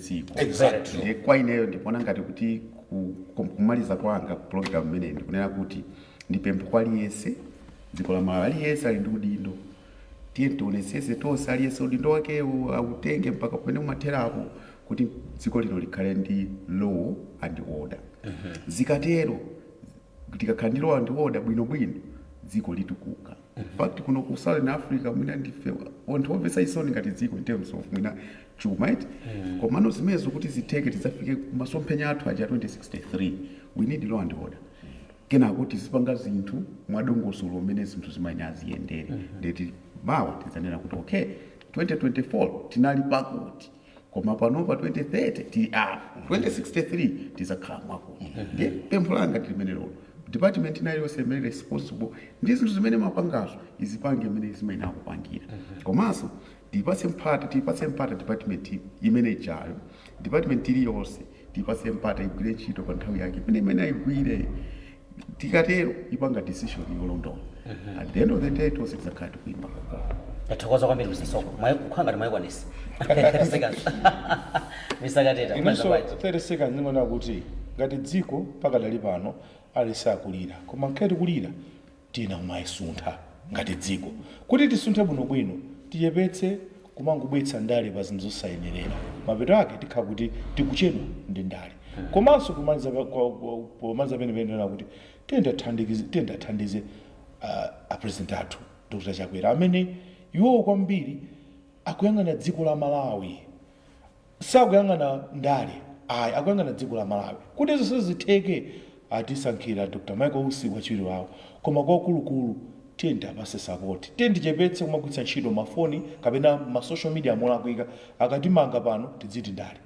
dziko Exactly. ndiye
kwa ineyo
ndikuona ngati kuti ku- ku- kumaliza kwanga ku program imeneyi ndikunena kuti ndipemphe kwa aliyense dziko la malawi aliyense ali ndi udindo tiyeni tionetsetse tonse aliyense udindo wakewo autenge mpaka pamene umatherapo kuti dziko lino likhale ndi law and order zikatero Tikakhala ndi law and order bwino bwino dziko litukuka. In fact kuno ku southern Africa mwina ndife anthu omvetsa chisoni ngati dziko in terms of mwina chuma eti. Komano zimenezo kuti zitheke tidzafike ku masomphenya athu aja 2063 we need law and order. Kenako tizipanga zinthu mwa dongosolo mmene zinthu zimayenera ziyendere. Ndiye kuti mawa tidzanena kuti okay 2024 tinali pakuti. koma panopa 2030 tili apa 2063 tizakhala kwakuti ndiye pempho langa ndilimenelolo department ina iliyonse imene ili responsible ndi zinthu zimene imapangazo izipange mmene imayenera kupangira komanso tipatse mpata tipatse mpata department imene ijayo department iliyonse Tiipatse mpata igwire ntchito pa nthawi yake ipeze mmene ayigwire. Tikatero ipanga decision yolondola. At the end of the day tonse tidzakhala tikuimba lokoma. tathokoza kwambiri mr
soko Mwai- kukhala ngati mwayikwanisa 30 seconds mr kateta inenso mwamva bwanji?
30 seconds ndingonena kuti ngati dziko pakadali pano tili sad tikulira koma mkati kulira Tiyenera kumasuntha ngati dziko. Kuti tisunthe bwinobwino, tichepetse kumangobweretsa ndale pa zinthu zosayenerera. Mapeto ake tikhala kuti tikuchedwa ndi ndale. Komanso pomaliza pa, kwa, kwa, pomaliza penipeni ndinena kuti tiyeni tiathandikize, tiyeni tiathandize a, a president athu Dr. Chakwera amene iwowo kwambiri akuyang'ana dziko la Malawi. sakuyang'ana ndale ayi akuyang'ana dziko la Malawi kuti zonse zitheke atisankhira Dr Michael Usi wachiwiri wawo koma kwakulukulu tiyeni tiapase sapoti tiyeni tichepetse kumagwiritsa ntchito ma foni kapena ma social media molakwika akatimanga pano tidziti ndale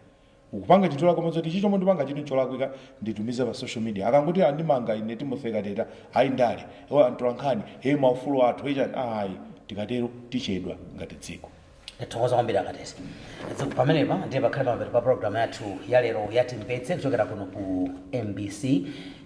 tikupanga chinthu cholakwika mwadziwa kuti ichi chomwe ndipanga chinthu cholakwika nditumize pa social media akangoti andimanga ine Timothy Kateta ayi ndale oh antolankhani hey maufulu athu hey chani ayi tikatero tichedwa ngati dziko. Ndithokoza
kwambiri a Kateta Zikomo pamenepa ndiye pakhale pamapeto pa program yathu ya lero ya timvetse kuchokera kuno ku mbc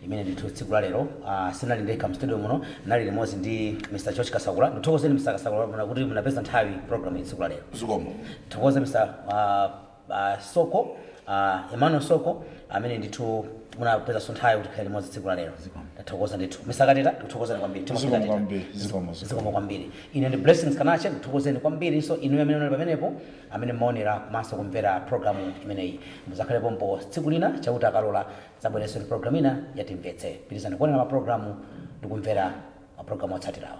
imene ndithu tsiku la lero ah, sinali ndekha mu studio muno nali limodzi ndi mr george kasakula ndithokozeni mr kasakula Mwaona kuti munapeza nthawi program ya tsiku la lero zikomo tithokoze
mr
ah, a Soko, a Emmanuel Soko amene ndithu munapezanso nthawi kuti tikhale limodzi tsiku la lero. Zikomo. Ndithokoza ndithu. Mr. Kateta, tikuthokozani kwambiri. Timothy Zikomo Kateta. kwambiri, zikomo, zikomo. Zikomo kwambiri. Ine ndi Blessings Kanache ndikuthokozeni kwambirinso inuyo amene munali pamenepo amene mmaonera komanso kumvera programu imeneyi. Mudzakhale pompo tsiku lina Chauta akalola tidzabwerenso ndi programu ina ya Timvetse. Pitirizani kuonera maprogramu ndi kumvera maprogramu otsatirawa.